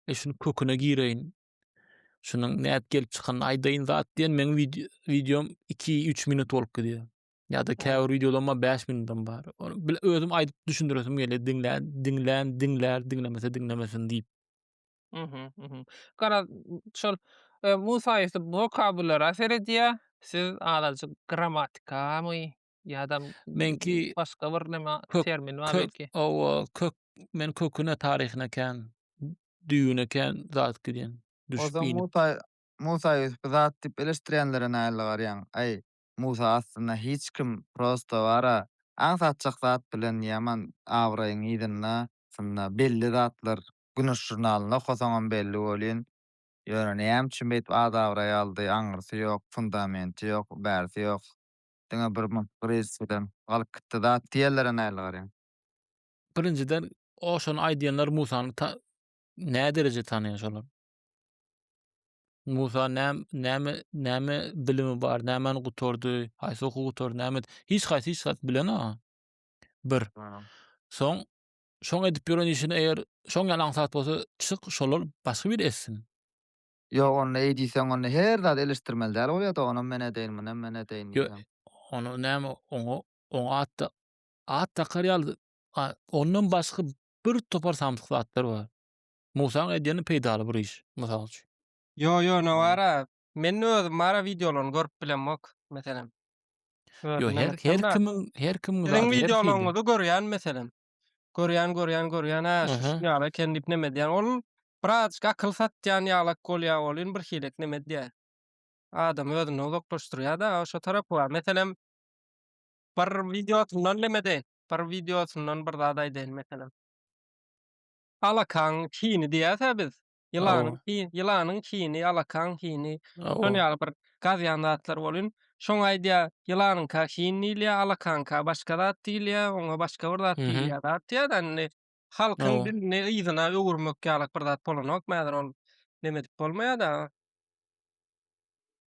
E şuny köküne gireýin. Şunuň nädip gelip çykanyny aýdaýyn zat diýen meň wideom 2-3 minut bolup gidýär. Ýa-da käbir wideolarym 5 minutdan bar. Ony özüm aýdyp düşündiresim gelýär. Diňlän, diňlän, diňlär, diňlemese diňlemesin diýip. Mhm, mhm. Garaz, şol, eee, Musa Ýusup wokabulara seredýär, siz azajyk grammatikamy ýa-da Meňki başga bir näme kök termin bar kök belki. owo kök men köküne taryhyna kän düýbüne kän zat gidýän düşüp Ozal inip. Musa Musa Ýusup zat diýip eleşdirýänlere nähili garýaň? Aý Musa aslynda hiç kim prosta bara aňsatjak zat bilen ýaman abraýyň yzynda aslynda belli zatlar Güneş žurnalynda okasaňam belli welin, ýöne näme üçin beýdip ad-abraý aldy, aňyrsy ýok, fundamenti ýok, bärsi ýok. Diňe bir munt krizis bilen galyp gitdi zat diýerlere nähili garaýaň? Birinjiden, o şony aýdýanlar Musany ta nä dereje tanaýar şolar? Musa nä näme näme bilimi bar, nämäni gutardy, haýsy okuw gutardy, näme et hiç haýsy hiç zat bilenok. Bir. Soň Şoň edip ýören işini eger şoň ýaly aňsat bolsa çyk şolar başga biri etsin. Ýok onda eý diýseň onda her zady eleşdirmeli däl bolýada onam men edeýin munam men edeýin diýseň. Onda näme oňa oňa atda at dakar ýaly ondan başga bir topar samsyk zatlar bar. Musaň edýeni peýdaly bir iş mysal üçin. Ýo ýo nowara Men özüm bara wideolaryny görüp bilemok, meselem. Yo her her kimiň her kimiň zady. Siziň wideolaryňyzy görýän meselem. Görýän, görýän, görýän, hä, şu ýaly eken diýip näme edýän. Ol birazjyk akyl satýan ýalak bolýar welin bir hilek näme edýär. Adamy özünden uzaklaşdyrýar-da, şo tarapy bar. Meselem, bir wideosyndan näme edeýin? Bir wideosyndan bir zat aýdaýyn, meselem. Alakaň hini diýýäs-ä biz. Ýylanyň Hawa. hi- ýylanyň hini, alakaň hini, Hawa. şol ýaly bir gazýan zatlar bolyn. Şoňa aýdýar, ýylanyňka hin diýilýär, alakaňka başga zat diýilýär, oňa başga bir zat Mhm. diýilýär zat diýýär-de, indi halkyň Hawa. dilini yzyna öwürmek ýalyk bir zat bolanokmy häzir ol neme edip bolmaýar-da.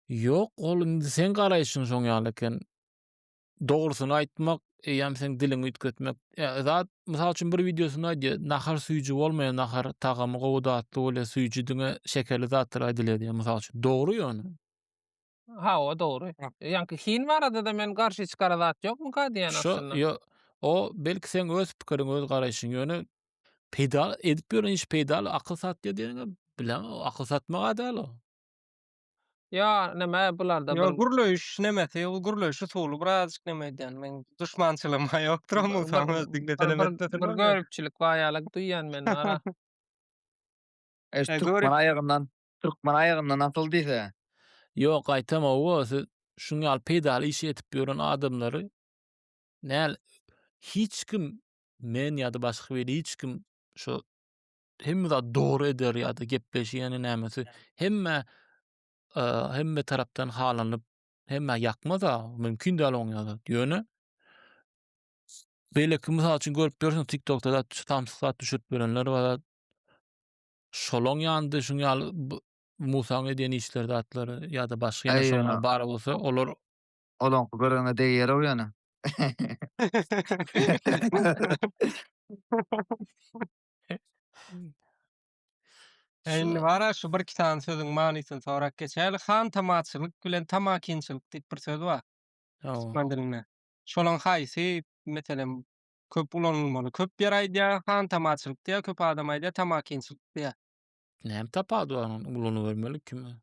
Ýok, ol indi seň garaýşyň şoň ýaly eken. dogrusyny aýtmak, eýýäm seň diliňi üýtgetmek. Ýa, zat, mysal üçin bir wideosynda aýdýar, nahar süýji bolmaýar, nahar tagamy gowy, datly bolýar, süýji diňe şekerli zatlara aýdylýar diýýär, mysal üçin. Dogry ýöne. Ha, o dogry. Ýaňky hin barada-da men garşy hiç gara zat ýokmyka diýýän aslynda. Şo, o, belki seň öz pikiriň, öz garaýşyň, ýöne peýda edip ýören iş peýdaly, akyl satýar diýeniňe, bilemok, akyl satmak-a däl o. Ýa neme bularda bir. Ýok gürleýiş nemesi ol gürleýiş usuly birazjyk neme edýän men duşmançylygym ýokdur oň bolsam öz diňlesenem etmesenem. Bir göripçilik bar ýaly duýýan men wara. Eş türkmen aýagyndan türkmen aýagyndan asyl diýse. Ýok gaýtamawa siz şuň ýaly peýdaly işi edip ýören adamlary näl hiç kim men ýa-da başga weli hiç kim şo hemme zat dogry eder ýa-da gepleşik ýa-da nämesi hemme hemme tarapdan halanyp hemmä ýakmaz-a, mümkin däl oň ýaly. Ýöne beýleki mysal üçin görüp ýörsiň TikTokda da samsyk zat düşürip ýörenler bar. Şolaň ýandy şuň ýaly Musaň edýän işleri zatlary ýa-da başga ýene şoňa bar bolsa olar olaň görene degýär-ow ýöne. Indi bara şu bir iki sany sözüň manysyny sorap geçäýeli. Han tamaçylyk bilen tamakinçilik diýip bir söz bar. Türkmen dilinde. Şolaň haýsy meselem köp ulanylmaly? Köp ýer aýdýar, han tamaçylyk diýýär, köp adam aýdýar, tamakinçilik diýýär. Näme tapawudy bar ony ulanybermeli kime?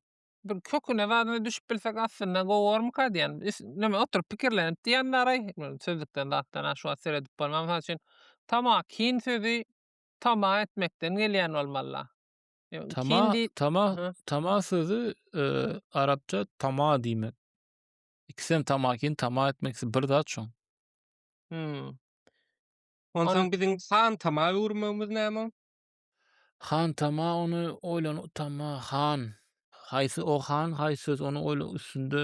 bir köküne zadyna düşüp bilsek aslynda gowarmyka diýen. Üs- Näme oturyp pikirlenip diýen daraý. Sözlükden zatdan ha şu wagt seredip bolman mysal üçin tamah kin sözi tamah etmekden gelýän bolmalla. Ýa, Tama, Kin diý. tama, Aha. tama sözü e, arapça tama diýmek. İkisem tamakin, tama etmek ikisi bir zat şoň. Hmm. Onsoň biziň san tama öwürmegimiz näme? Hantama ony oýlan utanma han. Haýsy o han, haýsy söz ony oýla üstünde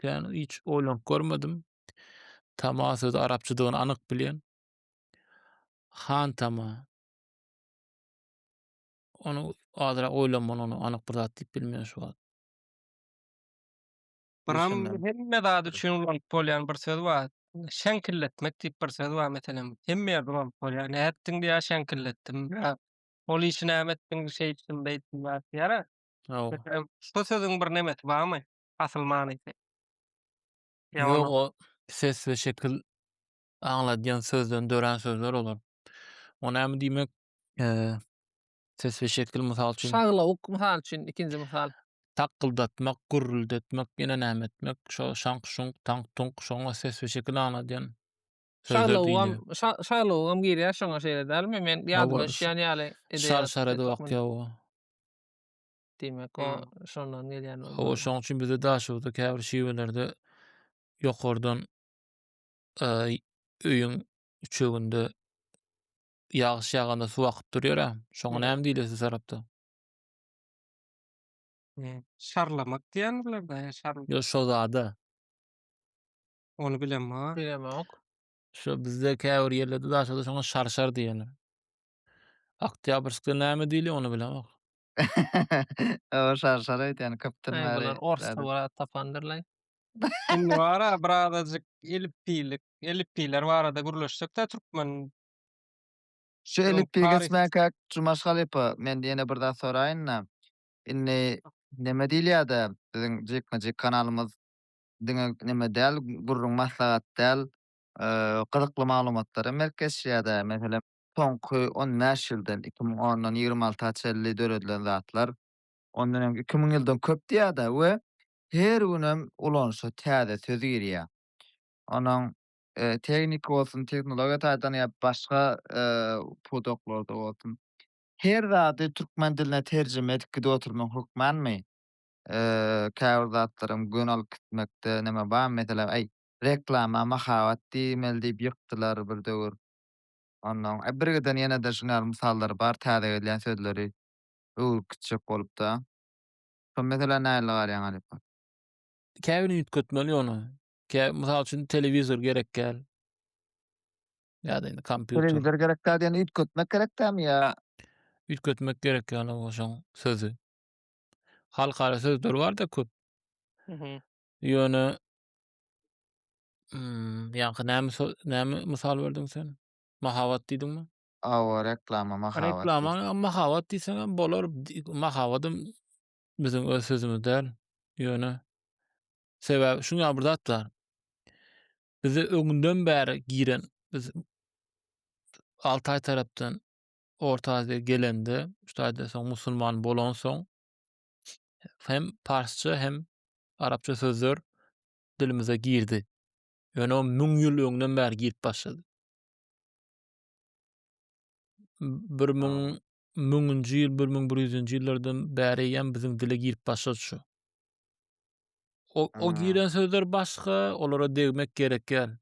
kän hiç oýlanyp görmedim. Tama sözi arapçadygyny anyk bilýän. Hantama. Ony azyrak oýlanmaly ony anyk bir zat diýip bilmeýän şu wagt. Buram hemme zat üçin ulanyp bolýan bir söz bar. Şeňkilletmek diýip bir söz bar meselem. Hemme ýerde ulanyp bolýar. Nätdiň diýýär, şeňkilletdim. Ol işi näme etdiň, şeý etdim, beý etdim zat diýýär-ä. Meselem, şo sözüň bir nemesi barmy, asyl manysy? Ýok, ol ses we şekil aňladýan sözden dörän sözler olar. O näme diýmek, Ses we şekil, mysal üçin. Şaglawuk, mysal üçin, ikinji mysal. Takgyldatmak, gürrüldetmek, ýene näme etmek, şo şaňk-şuňk, taňk-tuňk, şoňa ses we şekil aňladýan Şaglawugam, şaglawugam girýär şoňa şeýle dälmi? Men ýadyma düşýän ýaly edeýär. Şar-şar edip akýar bu. Diýmek, o şondan gelýän bolmaly. Hawa, şoň üçin bizde daşoguzda käbir şiwelerde ýokardan öýüň üçeginde Ýagyş ýaganda suw akyp durýar a. Şoňa näme diýilýär siz tarapda? Eee, şarlamak diýýän bularda, ýa şar Ýo şo zada. Ony bilemok a. Bilemok. Şo bizde käbir ýerlerde daşada şoňa şarşar diýýärler. Oktýabrskda näme diýilýär, ony bilemok. Oba şarşar aýdýan köpden Aý, bäri. bular orsda bir zat tapandyrlaý. Indi bar-a birazajyk elipbiýlik, elipbiýler barada gürleşsek-dä türkmen Şu Ýok, elipbiýi taryh- geçmäkä Jumaş halypa, men ýene bir zat soraýyn-da. Indi näme diýilýär-de, biziň jikme-jik kanalymyz diňe näme däl, gürrüň, maslahat däl, eee, gyzykly maglumatlar hem berip geçýär-de. Meselem, soňky on bäş ýyldan, iki müň ondan ýigrimi alta çenli döredilen zatlar, ondan öňki iki müň ýyldan köp diýýär-de we her günem ulanyşa täze söz girýär. Onuň tehniki bolsun, tehnologiýa taýdan ýa başga pudaklarda bolsun, her zady türkmen diline terjime edip gidip oturmagyň hökmanmy? Käbir zatlaram göni alyp gitmekde näme bar? Meselem, äý, reklama mahabat diýmeli diýip ýykdylar bir döwür. Onnoň birgiden ýene-de şunuň ýaly mysallar bar, täze gelýän sözleri öwrüp gitjek bolup-da. Şol meselä nähili garaýaň Alyp aga? Käbiri üýtgetmeli ýöne. Kä, mysal üçin, telewizor gerek däl. Ýa-da indi kompýuter. Telewizor gerek däl diýende üýtgetmek gerek dälmi ýa? Üýtgetmek gerek ýaly bu şoň sözi. Halkara sözleri bar-da köp. Mhm. Ýöne mm, ýaňky näme sö- näme mysal berdiň sen? Mahabat diýdiňmi? Awa, reklama, mahabat. Reklama, mahabat diýseňem bolar. Di- Mahabadym Biziň öz sözümiz däl. Ýöne sebäbi şuň ýaly bir zat bar. Bize öňden bäri giren biz Altaý tarapdan Orta Aziýa gelende, şaýda soň musulman bolansoň hem parsça hem arapça sözler dilimize girdi. Ýöne o müň ýyl öňden bäri girip başlady. Bir müň müňünji ýyl, bir müň bir ýüzünji ýyllardan bäri eýýäm biziň dile girip başlady şu. O, o giren sözler başga, olara degmek gerekýär.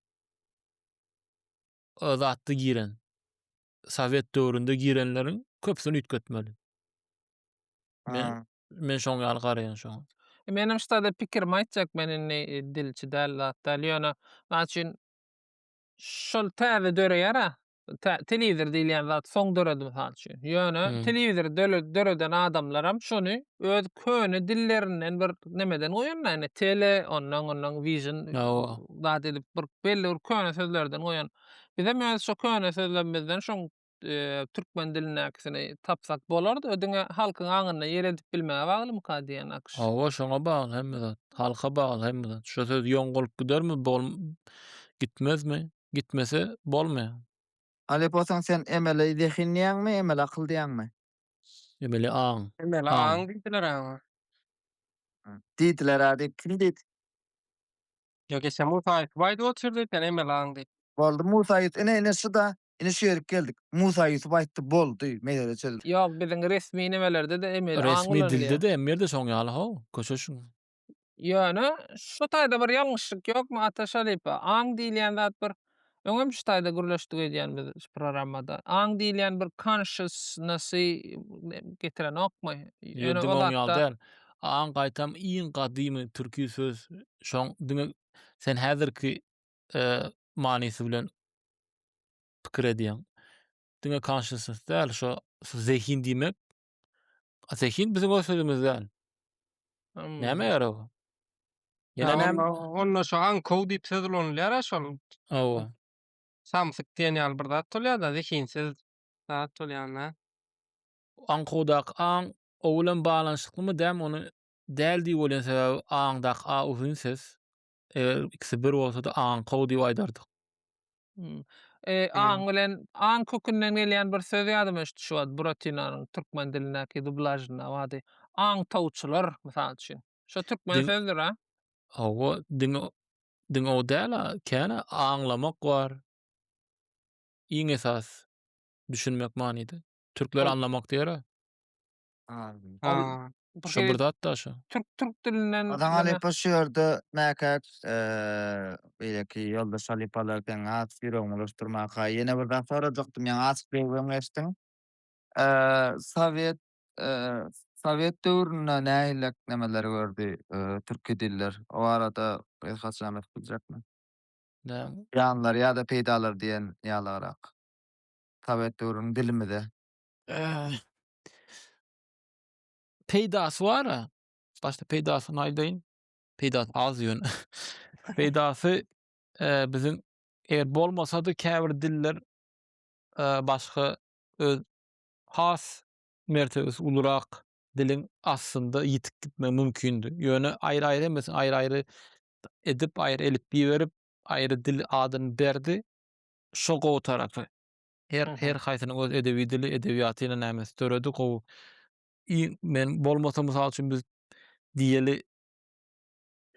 O zatda giren. Sowet döwründe girenleriň köpüsini üýtgetmeli. Men, men şoň ýaly garaýan şoň. E, menem ştada pikirimi aýtjak, men indi e, dilçi däl, zat däl, ýöne, naçin, şol täze döreýär-ä, tä- telewizor diýilýän zat soň döredi mysal üçin. Ýöne Hmm. telewizory döle- döreden adamlaram şony öz köne dillerinden bir nemeden goýanda, ýagny tele, ondan ondan vision Hawa. zat edip bir belli bir köne sözlerden goýan. Bizem öz şu köne sözlerimizden şoň eee, türkmen dilindäkisini tapsak bolardy. O diňe halkyň aňynda ýer edip bilmäge baglymyka diýýän Akyş. Hawa, şoňa bagly hemme zat. Halka bagly hemme zat. Şu söz ýoň bolup gidermi, bol gitmezmi? gitmese bolmaýar. Alyp bolsaň sen emeli zehin diýýäňmi, emeli akyl diýýäňmi? Emeli aň. Emeli aň diýdiler aňa. Diýdiler-ä diýip kim diýdi? Ýok eşe Musa Ýusup aýdyp otyrdy sen emeli aň diýip. Boldy Musa Ýusup ine ine şuda ine şu ýerik geldik. Musa Ýusup aýtdy boldy mesele çözüldi. Ýok biziň resmi nemelerde-de emeli aň ulanylýar. Resmi dilde-de emeli dilde-de şoň ýaly how köşeşiň. Ýöne, şu taýda bir ýalňyşlyk ýokmy, Ata Şalypa? Aň diýilýän zat bir, öňem şu taýda gürleşdik öýdýän biz şu programmada. Aň diýilýän bir consciousness-y getirenokmy? Ýöne ol hakda. Aň gaýtam iň gadymy türki söz. Şoň, diňe sen häzirki manysy bilen pikir edýäň. Diňe consciousness däl, şo zehin diýmek, A Zehin biziň o sözümizden. Hmm. Näme ýarag? Ýene näme? Onda şu ankow diýip söz ulanylýar a şol. Hawa. Samsyk diýen ýaly bir zat bolýar-da, zehinsiz zat bolýar-da. Ankowdaky aň o bilen baglanyşyklymy däm ony däl diýip bolýan sebäbi aňdaky a uzyn ses. Eger ikisi bir bolsady aňkow diýip aýdardyk. Hmm. E, aň bilen aň kökünden gelýän bir söz ýadyma düşdi şu wagt Buratinanyň türkmen dilindäki dublažynda wady. Aň tawçylar mysal üçin. Şo türkmen Dil- sözdür ha. Hawa, diň diň o däl, ha, käne aňlamak bar. Iň esas düşünmek manyda. Türkler Ol- anlamak diýer. Ol Şo bir zat da şo. Türk türk dilinden Ozan Halypa şu ýerde mäkäç beýleki ýoldaş halypalar seň has ýüregiňi ulaşdyrmaka ýene bir zat sorajakdym ýaňy açyk söýgüň geçdiň. Sowet Sowet döwründe nähillek nemeleri gördi türki diller? O barada biz haçan aýdyp biljekmi? Zyýanlary ýa-da peýdalary diýen ýalyrak. Sowet döwrüniň dilimize. Peýdasy bar-a. Başda peýdasyny aýdaýyn. Peýdasy az ýöne. Peýdasy biziň eger bolmasa-da käbir diller başga öz has mertebesi ulurak diliň aslynda ýitip gitmegi mümkindi. Ýöne aýry-aýry hemmesini aýry-aýry edip, aýry elipbiý berip, aýry dil adyny berdi. Şo gowy tarapy. Her her haýsynyň öz edebi dili, edebiýatyna nämesi döredi gowy. men bolmasa mysal üçin biz diýeli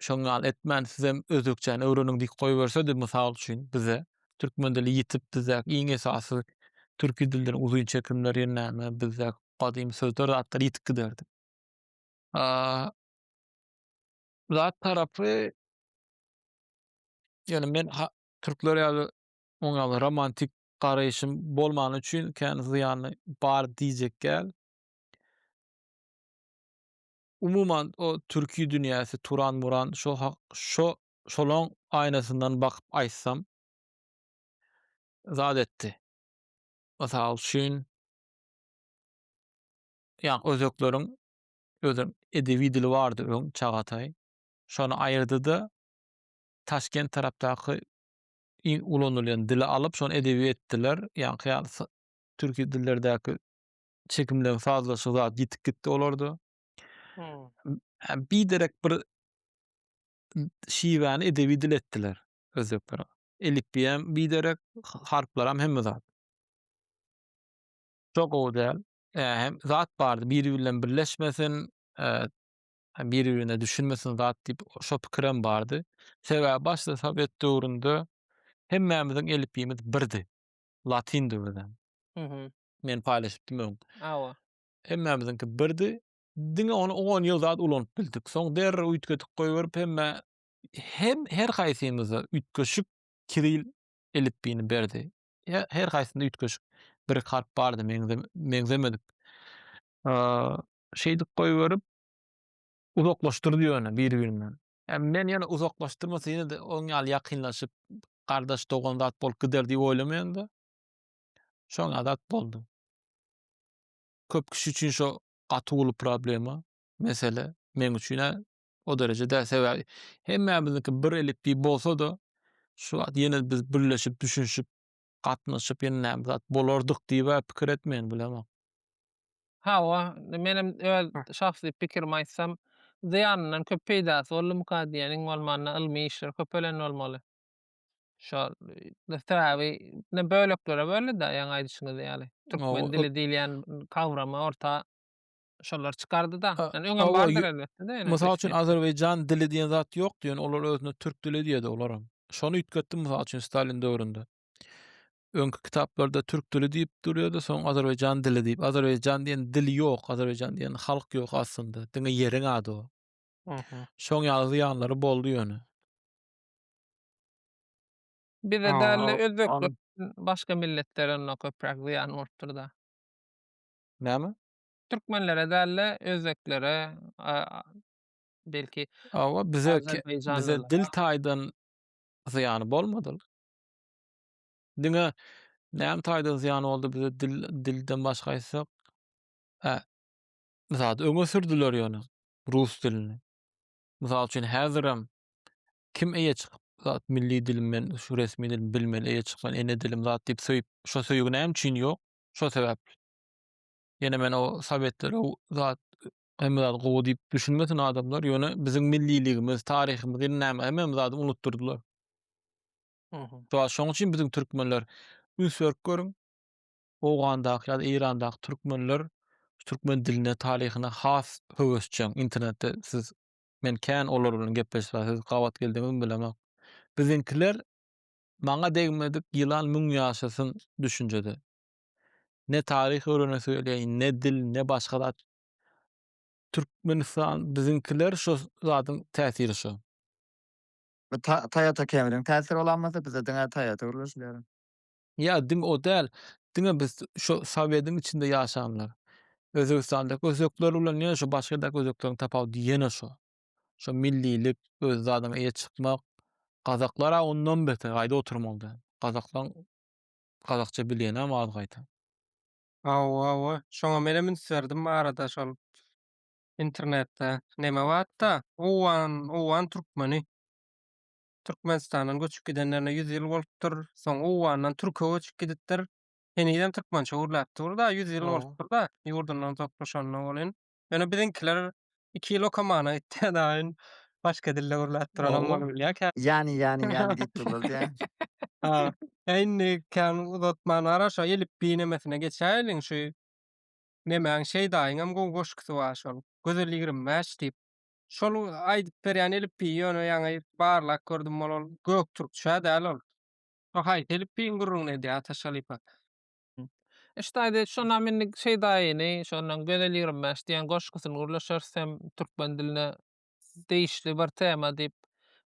şoň ýaly etmän sizem özbekçäni öwreniň diýip goýbersedi mysal üçin bize türkmen dili ýitip bizdäki iň esasy türki dilden uzyn çekimler ýene näme bizde gadymy sözler zatlar ýitip giderdi. Zat tarapy ýöne men türkler ýaly Oňa romantik garaýşym bolmany üçin kän zyýany bar diýjek däl. Umuman o türki dünýäsi Turan-Muran şo hak şo şolaň aýnasyndan bakyp aýtsam zat etdi. Mysal üçin ýa özekleriň özüň edebi dili bardy öň Çagataý. Şony aýyrdy-da Taşkent tarapdaky iň ulanylýan dili alyp, şony edebi etdiler. Ýaňky ýaly s türki dillerdäki çekimleň sazlaşygy zat ýitip gitdi olarda. Hmm. Hä, biderek bir şiwäni edebi dil etdiler özbekler. Elipbiý hem biderek, harplaram hemme zat. Şo gowy däl. Hä, hem zat bardy, biri bilen birleşmesin, e, biri-birine düşünmesin zat diýip, şo pikirem bardy. Sebäbi başda sowet döwründe hemmämiziň elipbiýmiz birdi. Latyndy özem. Mhm. Men paýlaşypdym öň. Hawa. Hemmämiziňki birdi. Diňe ony on ýyl zat ulanyp bildik. Soň derrew üýtgedip goýberip hemmä hem her haýsymyza üýtgeşik kiril elipbiýini berdi. He her haýsynda üýtgeşik bir harp bardy meňze meňzemedik. şeýdip goýberip, uzaklaşdyrdy ýöne biri-birinden. Men ýene uzaklaşdyrmasa ýene-de oň ýaly ýakynlaşyp, gardaş-dogan zat bolup gider diýip oýlamaýan-da. Şoň ýaly zat boldy. Köp kişi üçin şo gaty uly problema, mesele. Meň üçin-ä o dereje däl. Sebäbi hemmämiziňki bir elipbiý bolsa-da, şu wagt ýene biz birleşip, düşünişip, gatnaşyp ýene näme zat bolardyk diýibä pikir etmeýän bilemok. Hawa, menem öz şahsy pikirimi aýtsam, zyýanyndan köp peýdasy boldumyka diýýän, iň bolmanda ylmy işler köpelen bolmaly. Şo sebäbi ine böleklere böldi-de ýaňy aýdyşyňyz ýaly. Türkmen dili diýilýän kawramy orta şolar çykardy-da. Ýani öňem bardyr elbetde-de. Mysal üçin Azerbaýjan dili diýen zat ýokdy, ýöne olar özüne türk dili diýýärdi olaram. Şony üýtgetdi mysal üçin Stalin döwründe. Öňki kitaplarda türk dili diýip durýardy, soň Azerbaýjan dili diýip. Azerbaýjan diýen dil ýok, Azerbaýjan diýen halk ýok aslynda. Diňe ýeriň ady o. Aha. Şoň ýaly zyýanlary boldy ýöne. Bize däl-de özbek başga milletlerine köpräk zyýan bolupdyr-da. Näme? Türkmenlere däl-de, özbeklere, belki, Hawa, bize bize dil taýdan zyýany bolmady. Diňe näme taýdan zyýany boldy bize dil dilden başga aýtsak, hä, zat öňe sürdüler ýöne rus dilini. Mysal üçin, häzirem kim eýe çykyp, zat milli dilim men, şu resmi dilim bilmeli, eýe çykman ene dilim zat diýip söýüp, şo söýgi näme üçin ýok? Şo sebäpli. Ýene men o sowetler o zat hemme zat gowy diýip düşünmesin adamlar. Ýöne biziň milliligimiz, taryhymyz ýene näme hemmem zady unutdyrdylar. Mhm. Şu wagt şoň üçin biziň türkmenler üns berip görüň. Owgandaky ýa-da Eýrandaky türkmenler türkmen diline, taryhyna has höwesjeň. Internetde siz men kän olar bilen gepleşse siz gabat geldiňizmi bilemok. Biziňkiler maňa degmedik ýylan müň ýaşasyn düşünjede. Ne taryh öwrenesi gelýär, ne dil, ne başga zat. Türkmenistan biziňkiler şo zadyň täsiri şo. Bu Toyota Camry-niň täsiri bolanmasa, bizde diňe Toyota gürleşilýär. Ýa diňe o däl, diňe biz şo Sowetiň içinde ýaşanlar. Özbegistandaky özbekler bilen ýene şo başga ýerdaky özbekleriň tapawudy ýene şo. Şo millilik, öz zadyňa eýe çykmak. Gazaklar-a ondan beter, gaýda oturmaly däl. Gazaklaň Gazakça bilýänäm az gaýta. Hawa hawa şoňa menem üns berdim arada şol internetde neme batda owgan owgan türkmeni türkmenistandan göçüp gidenlerine ýüz ýyl bolupdyr soň owgandan türke göçüp gidipdir henizem türkmençe gürläp dur da ýüz ýyl bolupdyr da ýurdundan uzaklaşanyna welin Ýöne biziňkiler iki ýyl okamana gitdi daýyn. Başga dilde gürläp duranam Ow. bolup bilýär kä. Ýany ýany ýany diýip durlar diýä. Ha. E indi kän uzatman gara şo elipbiý nemesine geçäýeliň şu nemäň Şeýdaýyňam gowy goşgusy bar şol. Gözel ýigrimi bäş diýip. Şol aýdyp berýän elipbiý ýöne ýaňy barlap gördüm ol ol göktürkçä däl ol. Şo haýsy elipbiýiň gürrüňini edýär Ataş halypa. Ştaýda şonam indi şeýdaýyny, şondan Gözel ýigrimi bäş diýen goşgusyny gürleşeris hem türkmen diline degişli bir tema diýip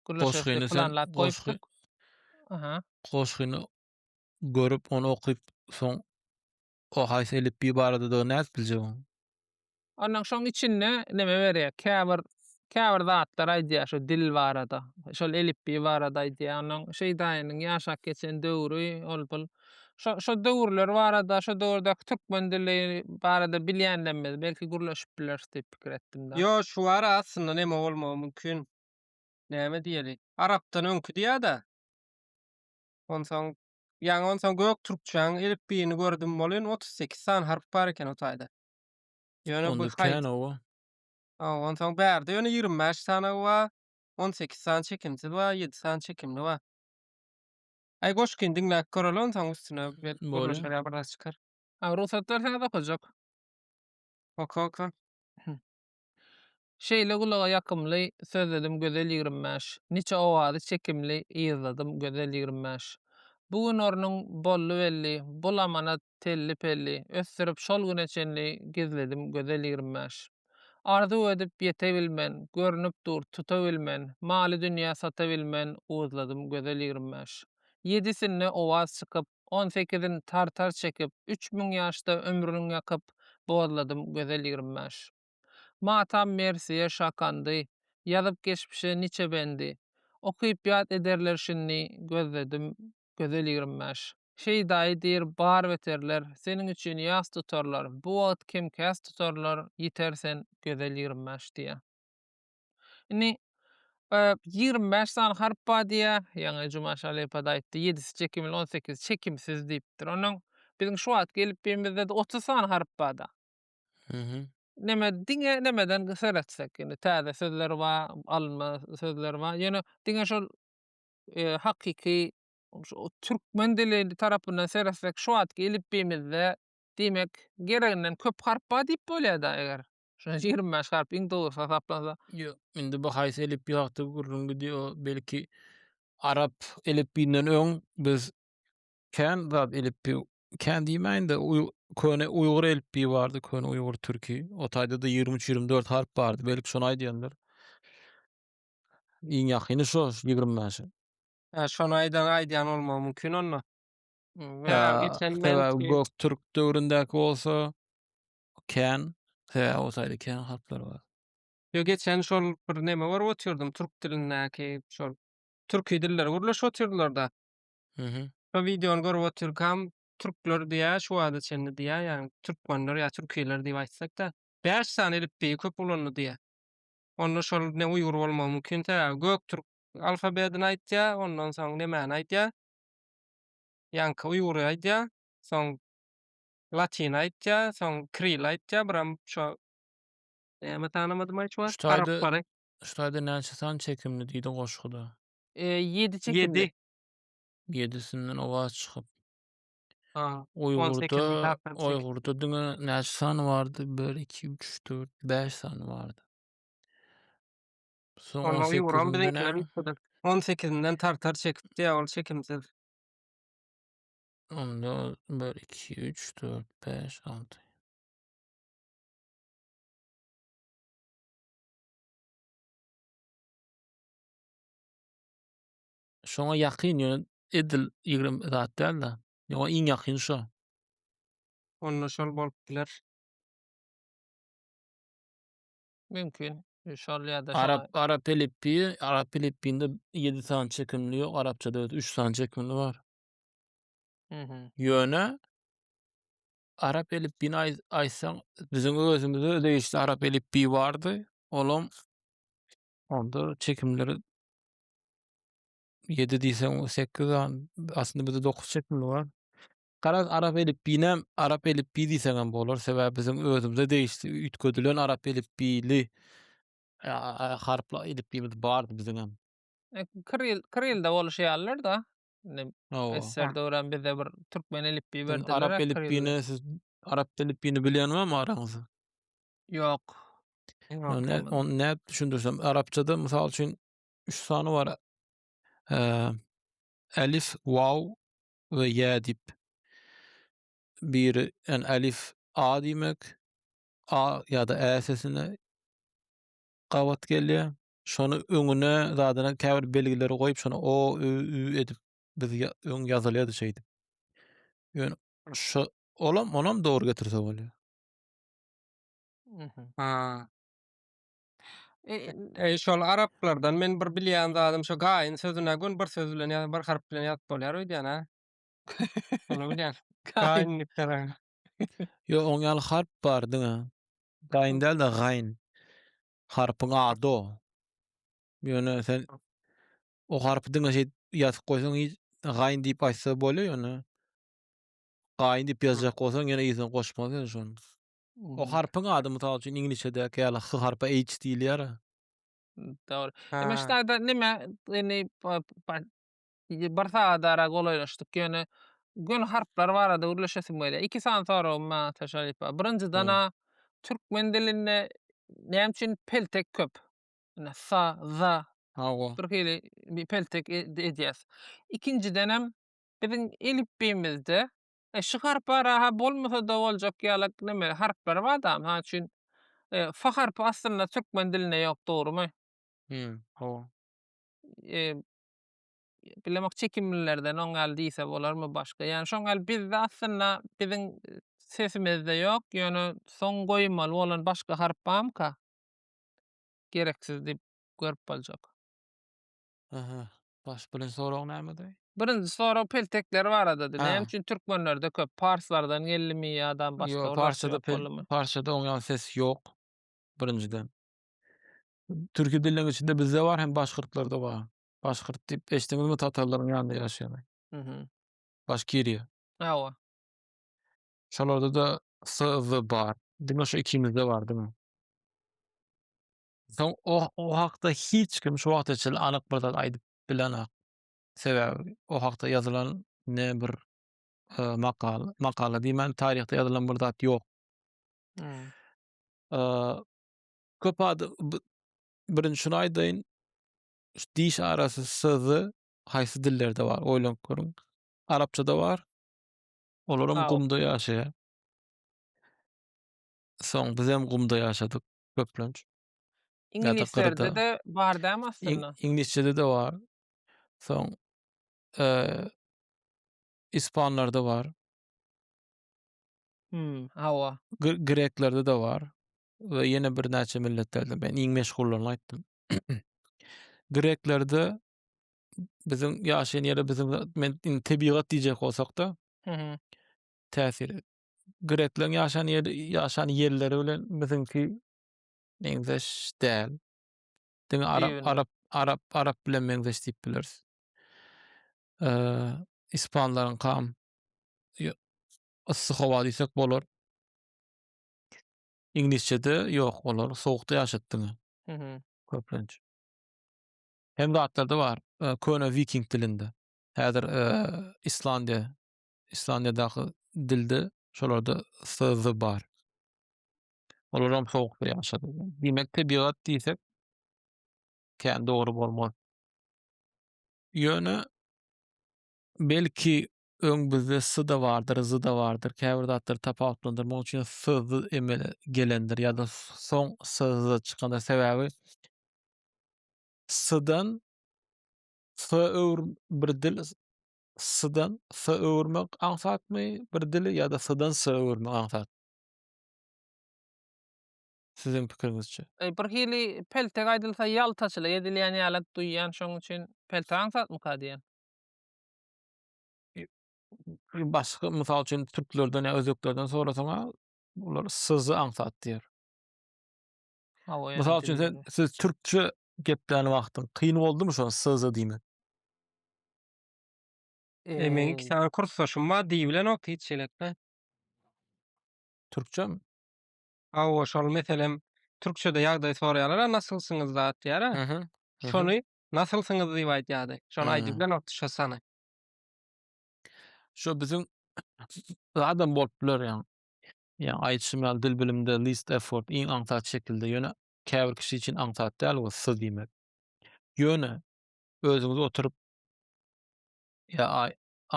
gürleşeris diýip planlap goýupdyk. Aha. Goşgyny görüp, ony okyp, soň o haýsy elipbiý baradadygyny nädip biljegiň? Ondan şoň içinde neme berýär? Käbir käbir zatlar aýdýar şu dil barada. Şol elipbiý barada aýdýar. Onuň Şeýdaýynyň ýaşap geçen döwri ol bul. Şo şo döwürler barada, şo döwürdäki türkmen dili barada bilýänlemmiz, belki gürleşip bileris diýip pikir etdim da. Ýo, şu bar aslynda neme bolmagy mümkin. Näme diýeli? Arapdan öňki diýä-de. Onsoň ýaňy onsoň göktürkçäň elipbiýini gördüm welin otuz sekiz sany harp bar eken o taýda. Ýöne bu Onda kän owa. Ondan soň bärde ýöne 25 sany wa, 18 sany çekimsiz wa, 7 sany çekimli wa. Aý goşgyny diňläp göreli ondan soň üstüne belki gürleşer ýa bir zat çykar. Rugsatlar saz okajak. Oka oka. Şeýle gulaga ýakymly, Sözledim gözel ýigrimi bäş. Niçe owazy çekimli, Yzladym gözel ýigrimi bäş. Bu gün ornuň boldy belli, Bul amanat telli-pelli, Ösdürip şol güne çenli, Gizledim gözel ýigrimi bäş. Arzuw edip ýete bilmen, Görnüp dur tuta bilmen, Maly-dünýä sata bilmen, Uzladym gözel ýigrimi bäş. Ýedisinde owaz çykyp, On sekizin tartar çekip, Üç müň ýaşda ömrüniň ýakyp, Bozladym gözel ýigrimi bäş. Matam mersiýe şakandy, Ýazyp geçmişe niçe bendi, Okyp ýat ederler şindi, Gözledim gözel ýigrimi bäş. Şeýdaýy diýr bar beterler, Seniň üçin ýas tutarlar, Bu wagt kem-käs tutarlar, Ýiter sen gözel ýigrimi bäş diýýär. Indi, e, ýigrimi bäş sany harp bar diýýär. Ýaňy Juma Şalypad aýtdy, ýedisi çekimli, on sekizisi çekimsiz diýipdir. Ondan biziň şu wagt gelip birimizde-de otuz sany harp bar-da. Mhm. Neme, diňe nemeden seretsek, indi täze sözler bar, alynma sözler bar. Ýöne diňe şol, e, hakyky şu türkmen dili tarapyndan seretsek, şu wagt gelip birimizde, diýmek, gereginden köp harp bar diýip bolýar-da, eger Şonda ýigrimi bäş harp iň dogrusy hasaplansa. Ýok, indi bu haýsy elipbiý hakda gürrüň gidýär, o belki arap elipbiýinden öň biz kän zat elipbiý, kän diýmäýin-de, köne uýgur elipbiýi bardy, köne uýgur türki. O taýda-da ýigrimi üç, ýigrimi dört harp bardy, belki şony aýdýandyr. Iň ýakyny şo şu ýigrimi bäşe. Hä, şony aýdan, aýdýan bolmagy mümkin onda. Sebäbi göktürk döwründäki bolsa, Kän. He, o taýda kän harplar bar. Ýok, geçen şol bir neme görüp otyrdym, türk dilindäki şol türki dilleri gürleşip otyrdylar-da. Mhm. Şo wideony görüp otyrkam, türkler diýýär, şu wagta çenli diýýär, ýagny türkmenler ýa türkiler diýip aýtsak-da, bäş sany elipbiýi köp ulandy diýýär. Onda şol ne uýgur bolmagy mümkin, sebäbi göktürk alfabedini aýtýar, ondan soň nemäni aýdýar? Ýaňky uýgury aýdýar, soň Latin aýtýa, soň Kril aýtýa, biram şo näme tanamadymaý şu wagt? Arap bary. Şu taýda näçe sany çekimli diýdi goşguda? E, ýedi çekimli. Ýedi. Ýedisinden owaz çykyp. Ha. Uýgurda, Uýgurda diňe näçe sany bardy? 1 2 3 4 5 sany bardy. Soň 18-inden 18-inden tartar çekipdi, ýa ol çekimsiz. Onda bir, iki, üç, dört, bäş, alty. Şoňa ýakyn ýöne edil ýigrimi zat däl-de. Ýöne iň ýakyn şo. Onda şol bolup biler. Mümkin. Şol ýa-da şoňa- Arap arap elipbiýi, arap elipbiýinde ýedi sany çekimli ýok, arapçada öz üç sany çekimli bar. Ýöne arap elipbiýini aý aýtsaň, biziň özümizde degişli arap elipbiýi bardy. Olam onda çekimleri 7 diýseň 8 an aslynda bizde 9 çekimli bar. Garaz arap elipbiýinem arap elipbiýi diýseň hem bolar. Sebäbi biziň özümizde degişli üýtgedilen arap elipbiýli a- a- harpla elipbiýimiz bardy biziňem. E, Kiril, Kirilde boluşýarlar-da. Indi SSR döwran bizde bir türkmen elipbiýi berdiler. Arap elipbiýini siz arap elipbiýini bilýän barmy araňyzda? Ýok. Onu näp düşündirsem, arapçada mysal üçin 3 sany bar. Elif, waw we ýa diýip. Biri yani elif a diýmek. A ýa-da ä sesine gabat gelýär. şony öňüne zadyna käbir belgileri goýup şony o ü ü edip biz öň ýazylýady şeýdip. Ýöne şu olam onam dogry getirse bolýar. Mhm. Ha. E, E, şol araplardan men bir bilýän zadym şu gaýyn sözüne gün bir söz bilen ýa bir harp bilen ýazyp bolýar öýdýän ha. Şony bilýän. Gaýyn diýip gelen. Ýo oň ýaly harp bar diňe. Gaýyn däl-de gaýyn. Harpyň ady o. Ýöne sen o harpy diňe şeýt ýazyp goýsaň hiç gaýyn diýip aýtsa bolýar ýöne gaýyn diýip ýazjak bolsaň ýene yzyna goşmaly sen şony. O harpyň ady mysal üçin iňlisçede ýaly H harpy H diýilýär. Dogry. Emma şaýda nime indi bir sagadara golaýlaşdyk. Ýöne göni harplar barada gürleşesim gelýär. Iki sany soragym bar Ataş halypa. Birinjiden-ä türkmen dilinde näme üçin peltek köp? Ine, sa, za, Hawa. bir hili peltek edýäs. Ikinjidenem biziň elipbiýimizde şu harpara-ha bolmasa-da boljak ýaly neme, harplar bar da. Mysal üçin, fa harpy aslynda türkmen dilinde ýok, dogrumy? Hawa. bilemok çekimlilerden oň ýaly diýse bolarmy başga. Ýani şoň ýaly bizde aslynda biziň sesimizde ýok, ýöne soň goýmaly bolan başga harp bamyka? Gereksiz diýip görüp boljak. Aha. Baş birinji sorag nämedi? Birinji sorag peltekler baradady. Näme üçin türkmenlerde köp? Parslardan geldimi ýa-da başga Ýok, parsçada parsçada oň ýaly ses ýok. Birinjiden. Türki diliniň içinde bizde bar hem başgyrtlarda bar. Başgyrt diýip eşdiňizmi tatarlaryň ýanynda ýaşaýany? Mhm. Başkiriýa. Hawa. Şolarda da S, Z bar. Diňe şu ikimizde bar diňe. Soň o, o hakda hiç kim şu wagta çenli anyk bir zat aýdyp bilenok. Sebäbi o hakda ýazylan ne bir e, makal, makala diýmän taryhda ýazylan bir zat ýok. Mhm. E, köp adam birinji şuny aýdaýyn şu diş arasy sözi haýsy dillerde bar oýlanyp görüň arapçada bar olaram gumda ýaşaýar soň bizem gumda ýaşadyk köplenç iňlislerde de bar dämi aslynda iňlisçede de bar soň ispanlarda bar hmm hawa greklerde de bar we ýene birnäçe milletlerde men iň meşhullaryny aýtdym. Greklerde biziň ýaşaýan ýere biziň men indi tebigat diýjek bolsak-da täsiri. Grekleriň ýaşan ýeri ýaşan ýerleri bilen biziňki meňzeş däl. Diňe arap Düýbünden. arap arap arap bilen meňzeş diýip bileris. Eee, ispanlaryňkam ýo- yssy howa diýsek bolar. Iňlisçede ýok olar sowukda ýaşat diňe. Mhm. Köplenç. Hem zatlarda bar e, köne viking dilinde. Häzir e, Islandiýa Islandiýadaky dilde şolarda sz bar. Olar hem sowukda ýaşady. Diýmek tebigat diýsek kän dogry bolmaz. Ýöne belki öň bizde s-da bardyr, z-da bardyr, käbir zatlary tapawutlandyr. Munuň üçin s-z emele gelendir ýa-da soň s-z çykandyr. Sebäbi s-dan s-a öwrüm bir dil, s-dan s-a öwürmek aňsatmy bir dili ýa-da s-dan s-a öwürmek aňsat? Siziň pikiriňizçe. Bir hili peltek aýdylsa ýaltaçylyk edilýän ýalak duýýan, şonuň üçin peltek aňsatmyka diýen. Başga, mysal üçin, türklerden ýa özbeklerden sorasaň-a, olar syzy aňsat diýer. Mysal üçin, sen, siz türkçe geplän wagtyň kyn boldumy şo syzy diýmek? E, meniň iki sany kursdaşym bar, diýibilenok hiç elbetde. Türkçemi? Hawa, şol meselem türkçede ýagdaý soraýarlar-a, nasylsyňyz zat diýer-ä. Şony Nasylsyňyz diýip aýdýardy. Şony aýdyp bilenokdy şo sany. Şo biziň zadam bolup biler ýaňy. Ýaňy aýdyşym ýaly dil bilimde least effort iň aňsat şekilde ýöne käbir kişi üçin aňsat däl we siz diýmek. Ýöne özüňiz oturyp ýa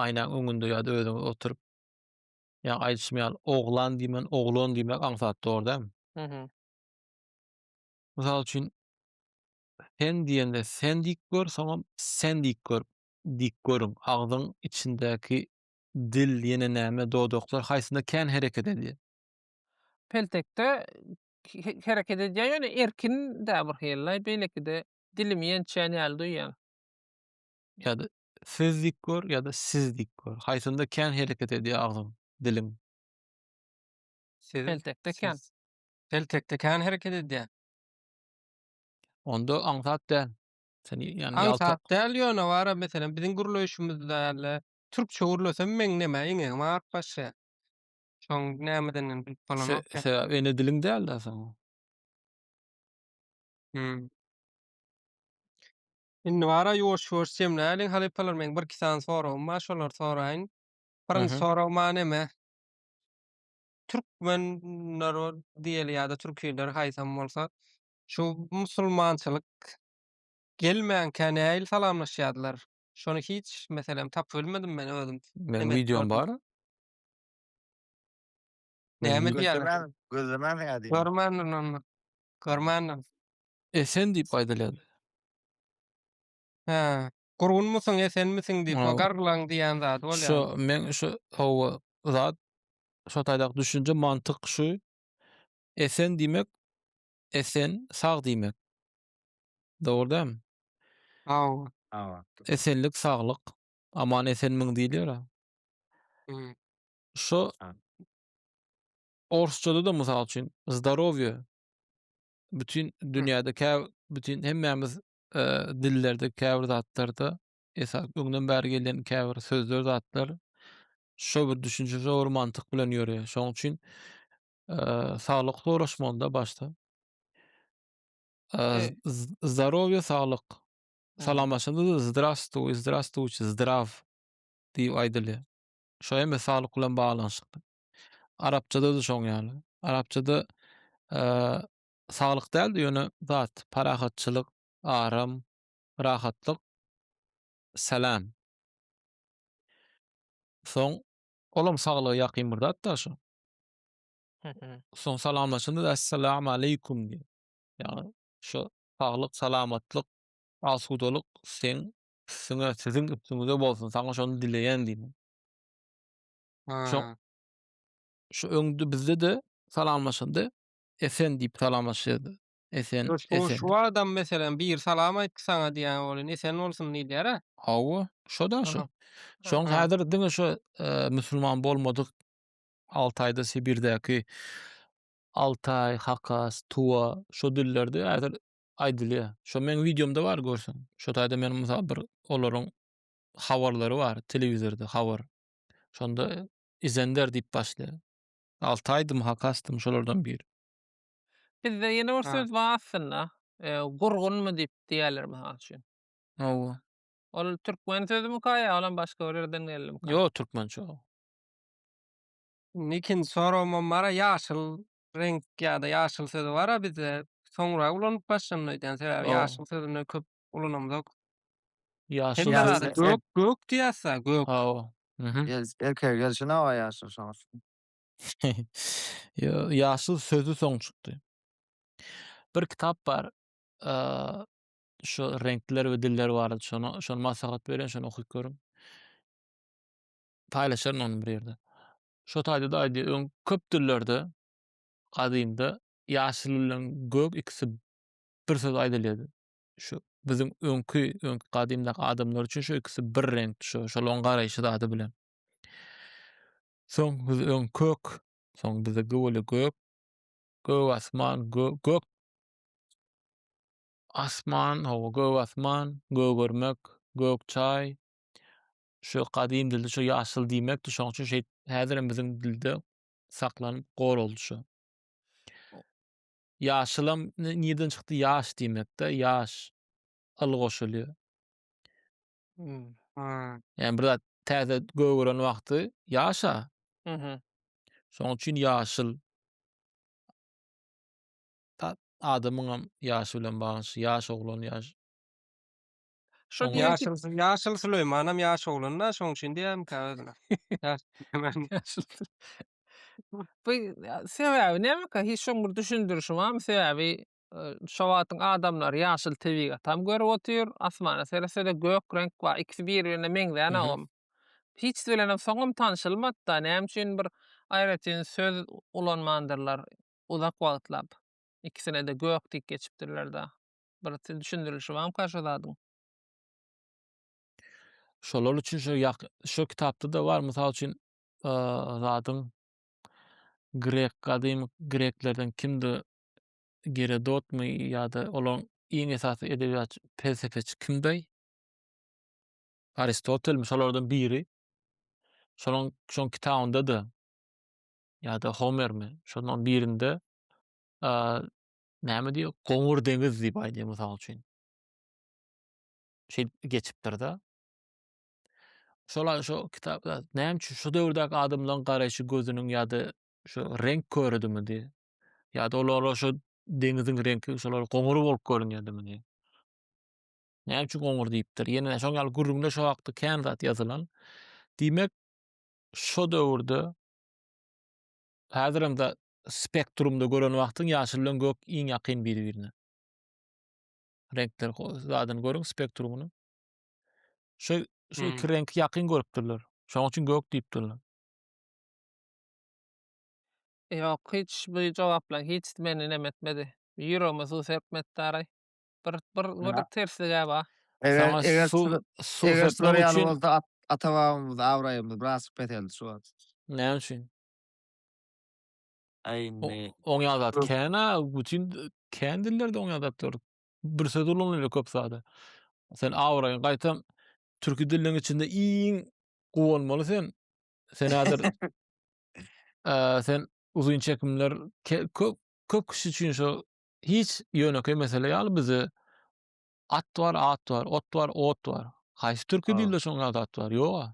aýnaň öňünde ýa-da özüňiz oturyp ýa aýdyşym ýaly oglan diýmän oglan diýmek aňsat dogry dämi? Mysal üçin Sen diýende sen diýip gör, soňam sen diýip gör. Diýip görüň, agzyň içindäki dil, ýene näme, dodaklar haýsynda kän hereket edýär? Peltekde hereket edýär, ýöne erkin-dä bir hili-laý, beýlekide dilimi ýençýän ýaly duýýan. Ýa-da siz diýip gör, ýa-da siz diýip gör. Haýsynda kän hereket edýär agzyň, diliň? Siz, Peltekde kän. siz. Peltekde kän hereket edýär. Onda aňsat däl. Sen ýa-ni ýalta. Aňsat däl, ýöne bara meselem biziň gürleýşimizde ýaly türkçe gürlesem meňzemä iňňeňi maňa atyp başlaýar. Şoň nämedenini bilip bolanok. Se-se ene diliň däl-dä seň. Hümm. Indi bara ýuwaş-ýuwaş jemläliň halypalar meň bir-iki sany soragym bar şolary soraýyn. Birinji sorag maňa näme? türkmen narod diýeli ýa-da türkiler haýsam bolsa şu musulmançylyk gelmänkä näil salamlaşýardylar? Şony hiç meselem tapybilmedim men özüm. Meniň wideom bar. Näme diýýärler? Gözlemäň ýa diýýär. Görmändim men muny. Görmändim. Esen diýip aýdylýar. Hä. Gurgunmysyň, esenmisiň diýip, o garglaň diýýän zady bolýar. Şu meň şu hawa zat şo taýdak düşünje mantyk şu esen diýmek esen sag diýmek. Dogry dämi? Hawa. Hawa. Esenlik saglyk. Aman esenmiň diýilýär. Hmm. Şo orsçada da mysal üçin zdarowie bütün dünýäde kä bütün hemmämiz e, dillerde käbir zatlarda esas öňden bäri gelen käbir sözler zatlar şo bir düşünje şo bir mantyk bilen ýörýär. Şonuň üçin e, saglyk soraşmanda başda e, e zdarowie saglyk salamlaşanda da zdrastuj zdrastuj zdrav diýip aýdylýar. Şo hem saglyk bilen baglanyşykly. Arapçada da şoň ýaly. Arapçada e, Saglyk däldi ýöne zat parahatçylyk aram rahatlyk salam soň olam saglyga ýakyn bir zat da şu soň salamlaşanda assalamu aleýkum diýen ýagny şu saglyk salamatlyk asudalyk seň üstüňe siziň üstüňize bolsun saňa şony dileýän diýmek şo şu öňde bizde de salamlaşanda Esen diýip salamlaşýardy. Esen, Ýoş, bu esen. şu adam meselem biri salam aýtdy saňa diýýän welin esen bolsun diýilýär-ä. Hawa, şo-da şo. Şoň häzir diňe şo musulman bolmadyk Altaýda, Sibirdäki Altaý, Hakas, Tuwa şo dillerde häzir aýdylýar. Şo meň wideomda bar görseň. Şo taýda meniň mysal bir olaryň habarlary bar, telewizorda habar. Şonda Izender diýip başlaýar. Alty aýdym hak astym şolardan biri. Bizde ýene bir söz bar aslynda. Gurgunmy diýip diýerler mysal üçin. Hawa. Ol türkmen sözümika ýa olam başga bir ýerden geldimika? Ýok türkmençe ol. Indi ikinji soragymam bara ýaşyl reňk ýa-da ýaşyl sözi bara bizde soňra ulanyp başlandy öýdýän sebäbi ýaşyl sözüne köp ulanamzok. Ýaşyl Hemme Ýaşyl, zada gök, gök diýýäs-dä, gök. Hawa. Mhm. Gel, erkek gelşi nawa ýaşyl şoňa. Ýo, ýaşyl sözi soň çykdy. Bir kitap bar. Eee, şu reňkler we diller barada şony, şony maslahat berýän, şony okyp görüň. Paýlaşaryn ony bir ýerde. Şo taýda-da aýdýar, öň köp dillerde gadymda ýaşyl bilen gök ikisi bir söz aýdylýardy. şu biziň öňki öňki gadymdaky adamlar üçin şu ikisi bir reňkdi şu şolaryň garaýşy zady bilen. Soň biz öň kök, soň bize göwele gök, gök asman, gök asman, hawa gök asman, gögermek, gök çaý. Şu gadym dilde şu ýaşyl diýmekdi. Şoň üçin şeýt häzirem biziň dilde saklanyp goraldy şu. Ýaşylam nirden çykdy ýaş diýmekde ýaş yl goşulýar. Ýani bir zat täze gögeren wagty ýaşa. Şoň üçin ýaşyl. Adamyňam ýaşy bilen baglanyşy ýaş oglan ýaş. Şo Oňa- diýen ki, Ýaşyl, ýaşyl Süleýmanam ýaş oglan-da, şoň üçin diýýärmikä özüne? Ýaş Süleýman. bu sebäbi nämeka? Hiç şoň bir düşündirişi barmy? Sebäbi e, şo wagtyň adamlary ýaşyl tebigatam görüp otyr, asmana seretse-de gök reňk bar, ikisi bir-birine meňzän Mhm. agam. Hiç bilenem soňam tanşylmady-da, näme üçin bir aýratyn söz ulanmandyrlar uzak wagtlap. Ikisine-de gök diýip geçipdirler-da. Bir siz düşündirilişi barmyka şo zadyň? Şolar üçin şu ýak şu kitapda da bar. Mysal üçin zadyň grek gadymy greklerden kimdi? Gerodotmy ýa-da olaryň iň esasy edebiýat pelsepeçi kimdi? Aristotelmi şolardan biri? Şonuň şoň kitabynda da ýa-da Homermi şonuň birinde näme diýýär, goňur deňiz diýip aýdýar, mysal üçin. Şeýdip geçipdir-de. Şol şu kitapda näme üçin şu döwürdäki adamlaryň garaýşy gözüniň ýa-da şu reňk köredimidi? Ýa-da olara şu deňiziň reňki şolar goňur bolup görünýärdimi? Näme üçin goňur diýipdir? Ýene şoň ýaly gürrüňde şo wagtda kän zat ýazylan. Diýmek, şo döwürde häzirem de spektrumda gören wagtyň ýaşyl bilen gök iň ýakyn biri-birine. Reňkler zadyny görüň spektrumyny. Şu şu iki reňki ýakyn görüpdirler. Şonuň üçin gök diýipdirler. Ýok, hiç bu jogaplar hiç meni nem etmedi. Ýüregime suw serpmetdaraý. Bir bir bir tersligä bar. Eger eger suw serpmek üçin bolsa ata-babamyz abraýymyz biraz peseldi şu wagt. Näme üçin? Aýne. Oň ýazat kena butin kän dillerde oň ýazatlar. Bir söz ulanylýar köp sada. Sen awraýyň gaýtam türki dilleriň içinde iň gowy bolmaly sen. Sen häzir eee sen uzyn çekimler köp köp kişi üçin şu hiç ýönekeý mesele ýaly bizi at bar, at bar, ot bar, ot bar. Haýsy türki dilde şoň ýazat bar? Ýoga.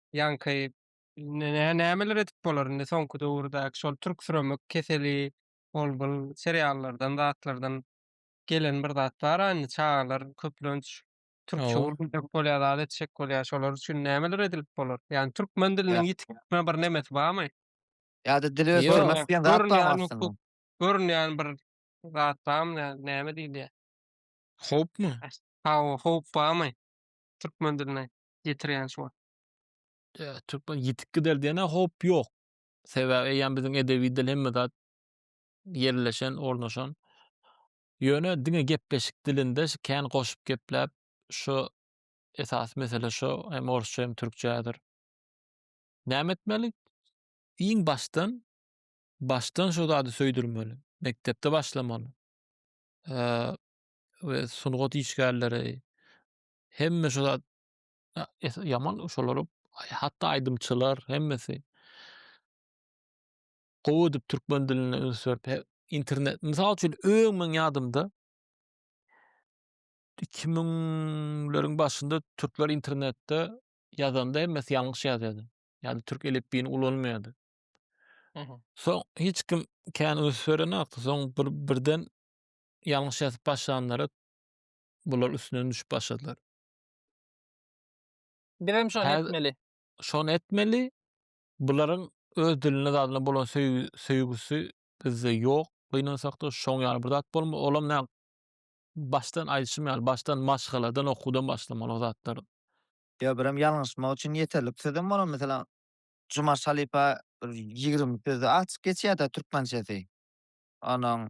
ýaňky nämeler edip bolar indi soňky döwürdäki şol türksüremek keseli ol bul seriallardan zatlardan gelen bir zat bar a indi çagalar köplenç türkçe Hawa. gürrüň edip bolýar zat etjek bolýar şolar üçin nämeler edilip bolar ýagny türkmen diliniň ýitikme bir nemesi bamy Ýa-da dili Ýok. ösdürmek diýen zat görünýän barmy aslynda? hukuk görünýän bir zat bamy nä- näme diýilýär Howpmy? hawa howp bamy türkmen diline ýetirýän şu wagt. Ýa, türkmen ýetik gider diýene howp ýok. Sebäbi eýýäm biziň edebi dil hemme zat ýerleşen, ornaşan. Ýöne diňe gepleşik dilinde şu kän goşup gepläp, şu esasy mesele şu, hem orsça hem türkçädir. Näme etmeli? Iň başdan, başdan şu zady söýdürmeli. Mekdepde başlamaly. Eee, we sungat işgärleri, hemme şu zat ýaman şolar hatda aýdymçylar hemmesi gowy edip türkmen diline üns berip internet mysal üçin öň meň ýadymda iki müňleriň başynda türkler internetde ýazanda hemmesi ýalňyş ýazýardy. Ýagny türk elipbiýini ulanmaýardy. Soň hiç kim kän üns berenokdy. Soň bir birden ýalňyş ýazyp başlanlara bular üstünden düşüp başladylar. Bizem şony Häz- etmeli. Şony etmeli. Bularyň öz diline zadyna bolan söýgi, söýgüsi bizde ýok. Gynansakda şoň ýaly bir zat bolma. Olam nä başdan aýdyşym ýaly, başdan maşgaladan, okuwdan başlamaly o zatlar. Ýa birem ýalňyşmak üçin ýeterlik sözem bolan, meselem, Jumaş halypa bir ýigrimi sözi açyk geçýär-de türkmençesi. Onuň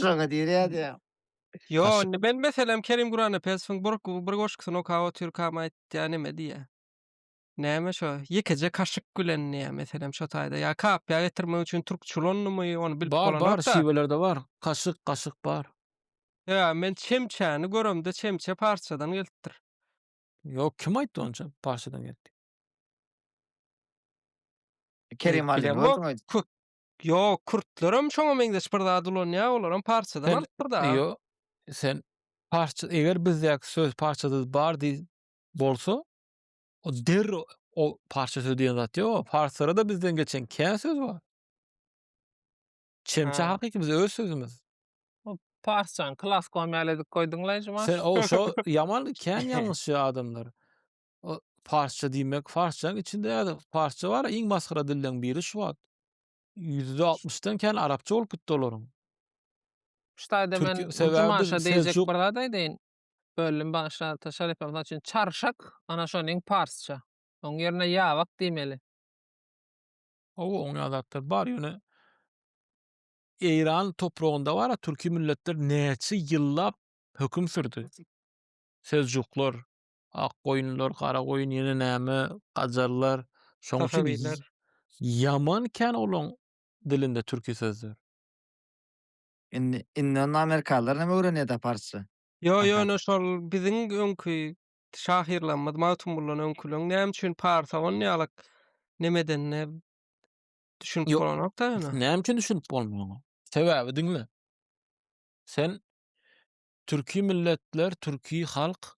Şoňa diýýärdi. Ýo, indi men meselem Kerim Gurannepesowyň bir bir goşgusyny okap otyrkam aýtýan neme diýýä. Näme şo, ýekeje kaşyk bilen diýýä meselem şo taýda. Ýa kapyýa getirmek üçin türk çulandymy, ony bilip bolanok-da. Bar, bar, şiwelerde bar. Kaşyk, gaşyk bar. Ýa, men çemçäni göremde çemçe parsçadan gelipdir. Ýo, kim aýtdy ony çem, parsçadan geldi. Kerim Alyny gördüňiz. Ýok, kürtlerem şoňa meňzeş bir zat ulanýar, olaram parçadan alypdyr-da. Ýo, sen parça, eger bizdäki söz parçada bar diý bolsa, o derrew o parça söz diýen zat ýok-a. Parslara-da bizden geçen kän söz bar. Çemçe hakyky biziň öz sözümiz. O parsçany klaskom ýaly edip goýduň-laý, Jumaş. Sen o şo ýaman kän ýalňyşýar adamlar. O parsça diýmek, parsçanyň içinde ýa-da parsça bar, iň masgara dilleň biri şu wagt. Ýüzde altmyşdan kän arapça bolup gitdi olaryň. Şu taýda men Türki- sebäbi Jumaşa biz diýjek Seljuk- bir zat aýdaýyn. Böldüm bagyşla ata Şerepem mysal üçin çarşak ana şonuň parsça. Oň ýerine ýabak diýmeli. Hawa, oň ýaly zatlar bar, ýöne Eýran topragynda bar-a türki milletler näçe ýyllap höküm sürdi. Seljuklar, Ak goýunlar, gara goýun ýene näme, gajarlar. Şoň üçin ýaman kän olaň dilinde türki sözler. Indi, indi onda amerikalylar näme öwrenýär-da parsça? Ýo, ýöne şol biziň öňki şahyrlarymyz Magtymguldan öňküleň näme üçin parsa on ýalak neme edende düşünip bolanok-da ýöne. Näme üçin düşünip bolmanok? Sebäbi diňle. Sen türki milletler, türki halk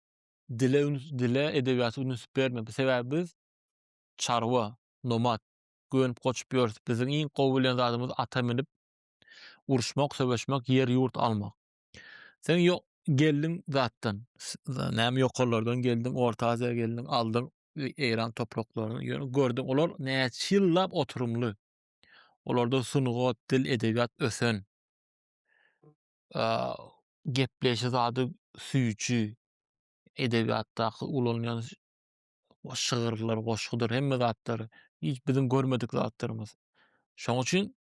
dile üns dile edebiýata üns berme sebäbi biz çarwa nomad gönüp goçup ýörüs biziň iň gowy bilen zadymyz ata minip uruşmak söweşmek ýer ýurt almak sen ýok geldiň zatdan näme ýokarlardan geldiň orta aziýa geldiň aldyň eýran topraklaryny ýöne gördüň olar näçe ýyllap oturymly olarda sungat dil edebiýat ösen gepleýşi zady süýji edebiýatdaky ulanylýan şygyrlar, goşgudyr, hemme zatlar hiç biziň görmedik zatlarymyz. Şoň üçin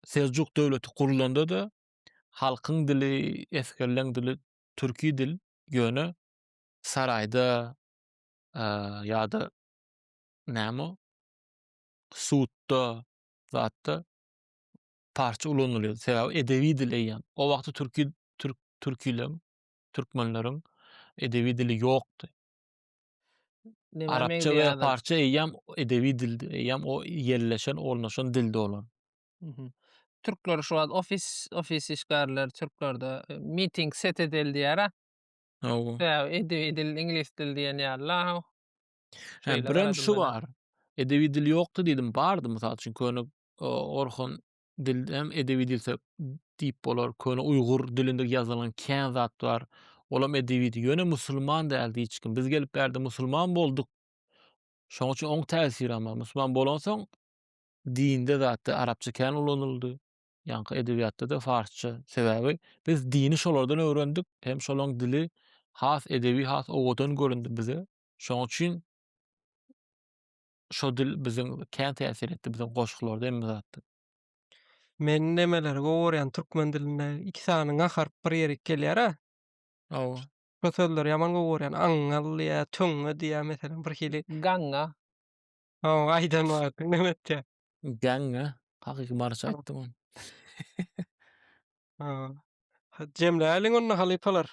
Seljuk döwleti gurlanda-da halkyň dili, esgerleň dili türki dil, ýöne saraýda ýa-da näme o sudda zatda parsça ulanylýardy. Sebäbi edebi dil eýýäm. O wagty türki türk türkilem türkmenleriň edebi dili ýokdy. Neme Arapça we meňzeýärdi? parsça eýýäm edebi dildi. Eýýäm o ýerleşen, ornaşan dildi olar. Mhm. Türkler şu wagt ofis ofis işgärleri türklerde e, meeting set edildi ýara. Hawa. Sebäbi edebi dil iňlis dil diýen ýaly. Ha. Hä, Şeýle birem garadyň şu mene. bar. Edebi dil ýokdy diýdim, bardy mysal üçin köne Orhon dilde hem edebi dil söp diýip bolar. Köne uýgur dilinde ýazylan kän zat bar. Olam edebi dil. Ýöne musulman däldi hiç kim. Biz gelip bärde musulman bolduk. Şoň üçin oň täsiri hem bar. Musulman bolansoň dinde zatda arapça kän ulanyldy. Ýaňky edebiýatda-da farsça. Sebäbi biz dini şolardan öwrendik. Hem şolaň dili has edebi, has owadan göründi bize. Şoň üçin şo dil biziň kän täsir etdi, biziň goşgularda hemme zatda. Men nemeleri gowy görýän türkmen dilinde iki sany ňa harp bir ýerik gelýär-ä. Hawa. Şo sözleri ýaman gowy görýän. Aňňal diýýä, töňňe diýýä meselem bir hili. Gaňňa. Hawa, aýdan wagtyň neme etýä? Gaňňa. Hakyky maryça aýtdyň ony. Hawa. Jemläliň onda halypalar.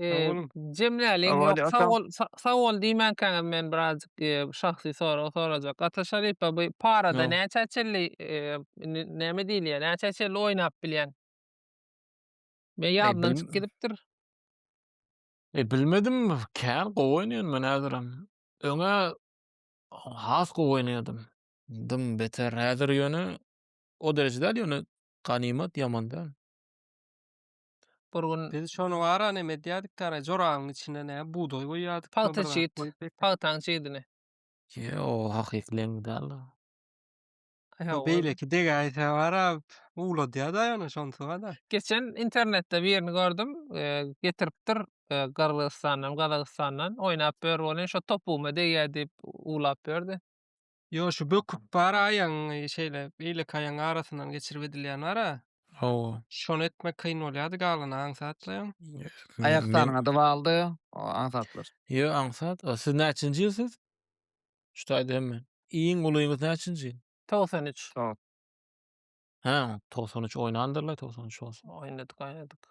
Sag Eee, boluň. Jemläliň, Awa, ýok, hadi, sag ata. bol, sa- sag bol diýmänkäňiz men birazjyk eee, şahsy sorag sorajak. Ata Şaripa, bu parada Hä. näçä çenli eee, indi näme diýilýär, näçä çenli oýnap bilýäň? Men ýadymdan bilim- çykyp gidipdir. E, bilmedim, kän gowy oýnaýan men häzirem. Öňe has gowy oýnaýardym. Dym beter. Häzir ýöne o derejede däl ýöne ganymat ýaman däl. Bir gün Biz şony wara näme edýärdik dara joragyň içine ne bugdaý goýýardyk. Pagta çyt. Pagtaň çydini. Ýo, hakyky leňňi däl. Bu beýleki degäýse wara uwladýar da ýöne şonsy wada. Geçen internetde birini gördüm. Getiripdir Gyrgyzystandan, Gazagystandan. Oýnap ýör welin şo topugyma degýär diýip uwlap ýördi. Ýo şu böküp bar aýagyň şeýle beýleki aýagyň arasyndan geçirip edilýän bara. Hawa. Şony etmek kyn bolýady galan aňsatlaýaň. Aýak sanyňa dywaldy o aňsatlar. Ýo aňsat o siz näçinji ýyl siz? Şu taýda hemme. Iň ulyňyz näçinji? Togsan üç. Hä togsan üç oýnandyrlar togsan üç bolsa. Oýnadyk oýnadyk.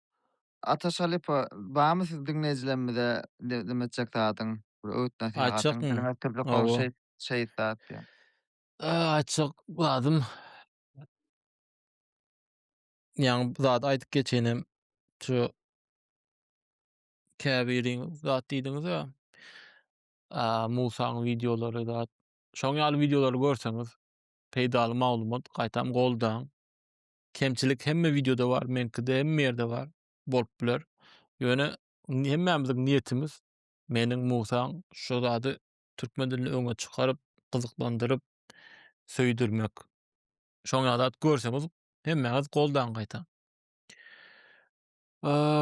Ata Şalypa barmy siz diňleýjilerimize diňe etjek zadyň, bir öwüt nasihatyň, diliňiz tüplük bolup şeýt şeýt zat diýen. Aýtjak zadym ýaňy bu zady aýdyp geçenem şu käbiriň zat diýdiňiz-ä. Musaň wideolary zat. Şoň ýaly wideolary görseňiz, peýdaly maglumat gaýtam goldaň. Kemçilik hemme wideoda bar, meňkide hemme ýerde bar, bolup biler. Ýöne hemmämiziň niýetimiz meniň Musaň şu zady türkmen dilinde öňe çykaryp, gyzyklandyryp, söýdürmek. Şoň ýaly zat görseňiz, hemmäňiz goldaň gaýta.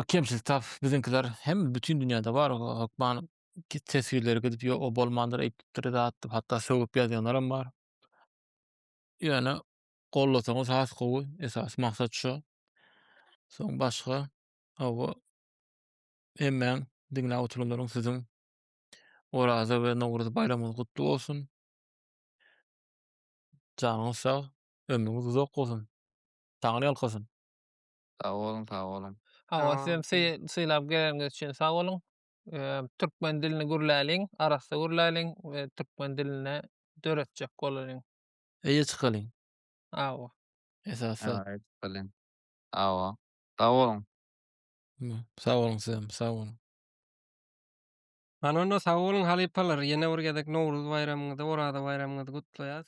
Kemçilik tap, biziňkiler hem bütin dünýäde bar, hökman teswirleri gidip ýok, o bolmandyr, eýtipdir zat diýip, hatda sögüp ýazýanlaram bar. Ýöne Gollasaňyz has gowy. Esasy maksat şo. Soň başga hawa hemmäň diňläp oturanlaryň siziň Oraza we Nowruz baýramyňyz gutly bolsun. Janyňyz sag, ömrüňiz uzak bolsun. Taňry ýalkasyn. Sag boluň, sag boluň. Hawa, siz hem sylap geleniňiz üçin sag boluň. Türkmen dilini gürläliň, arassa gürläliň we türkmen dilini döretjek bolalyň. Eýe çykalyň. Awa. Esasy. Aýt bilen. Awa. Sag boluň. Mü, Sag boluň sizem, sag boluň. Hany onda sag boluň halypalar, ýene bir gezek Nowruz baýramyňyzy, Oraza baýramyňyzy gutlaýas.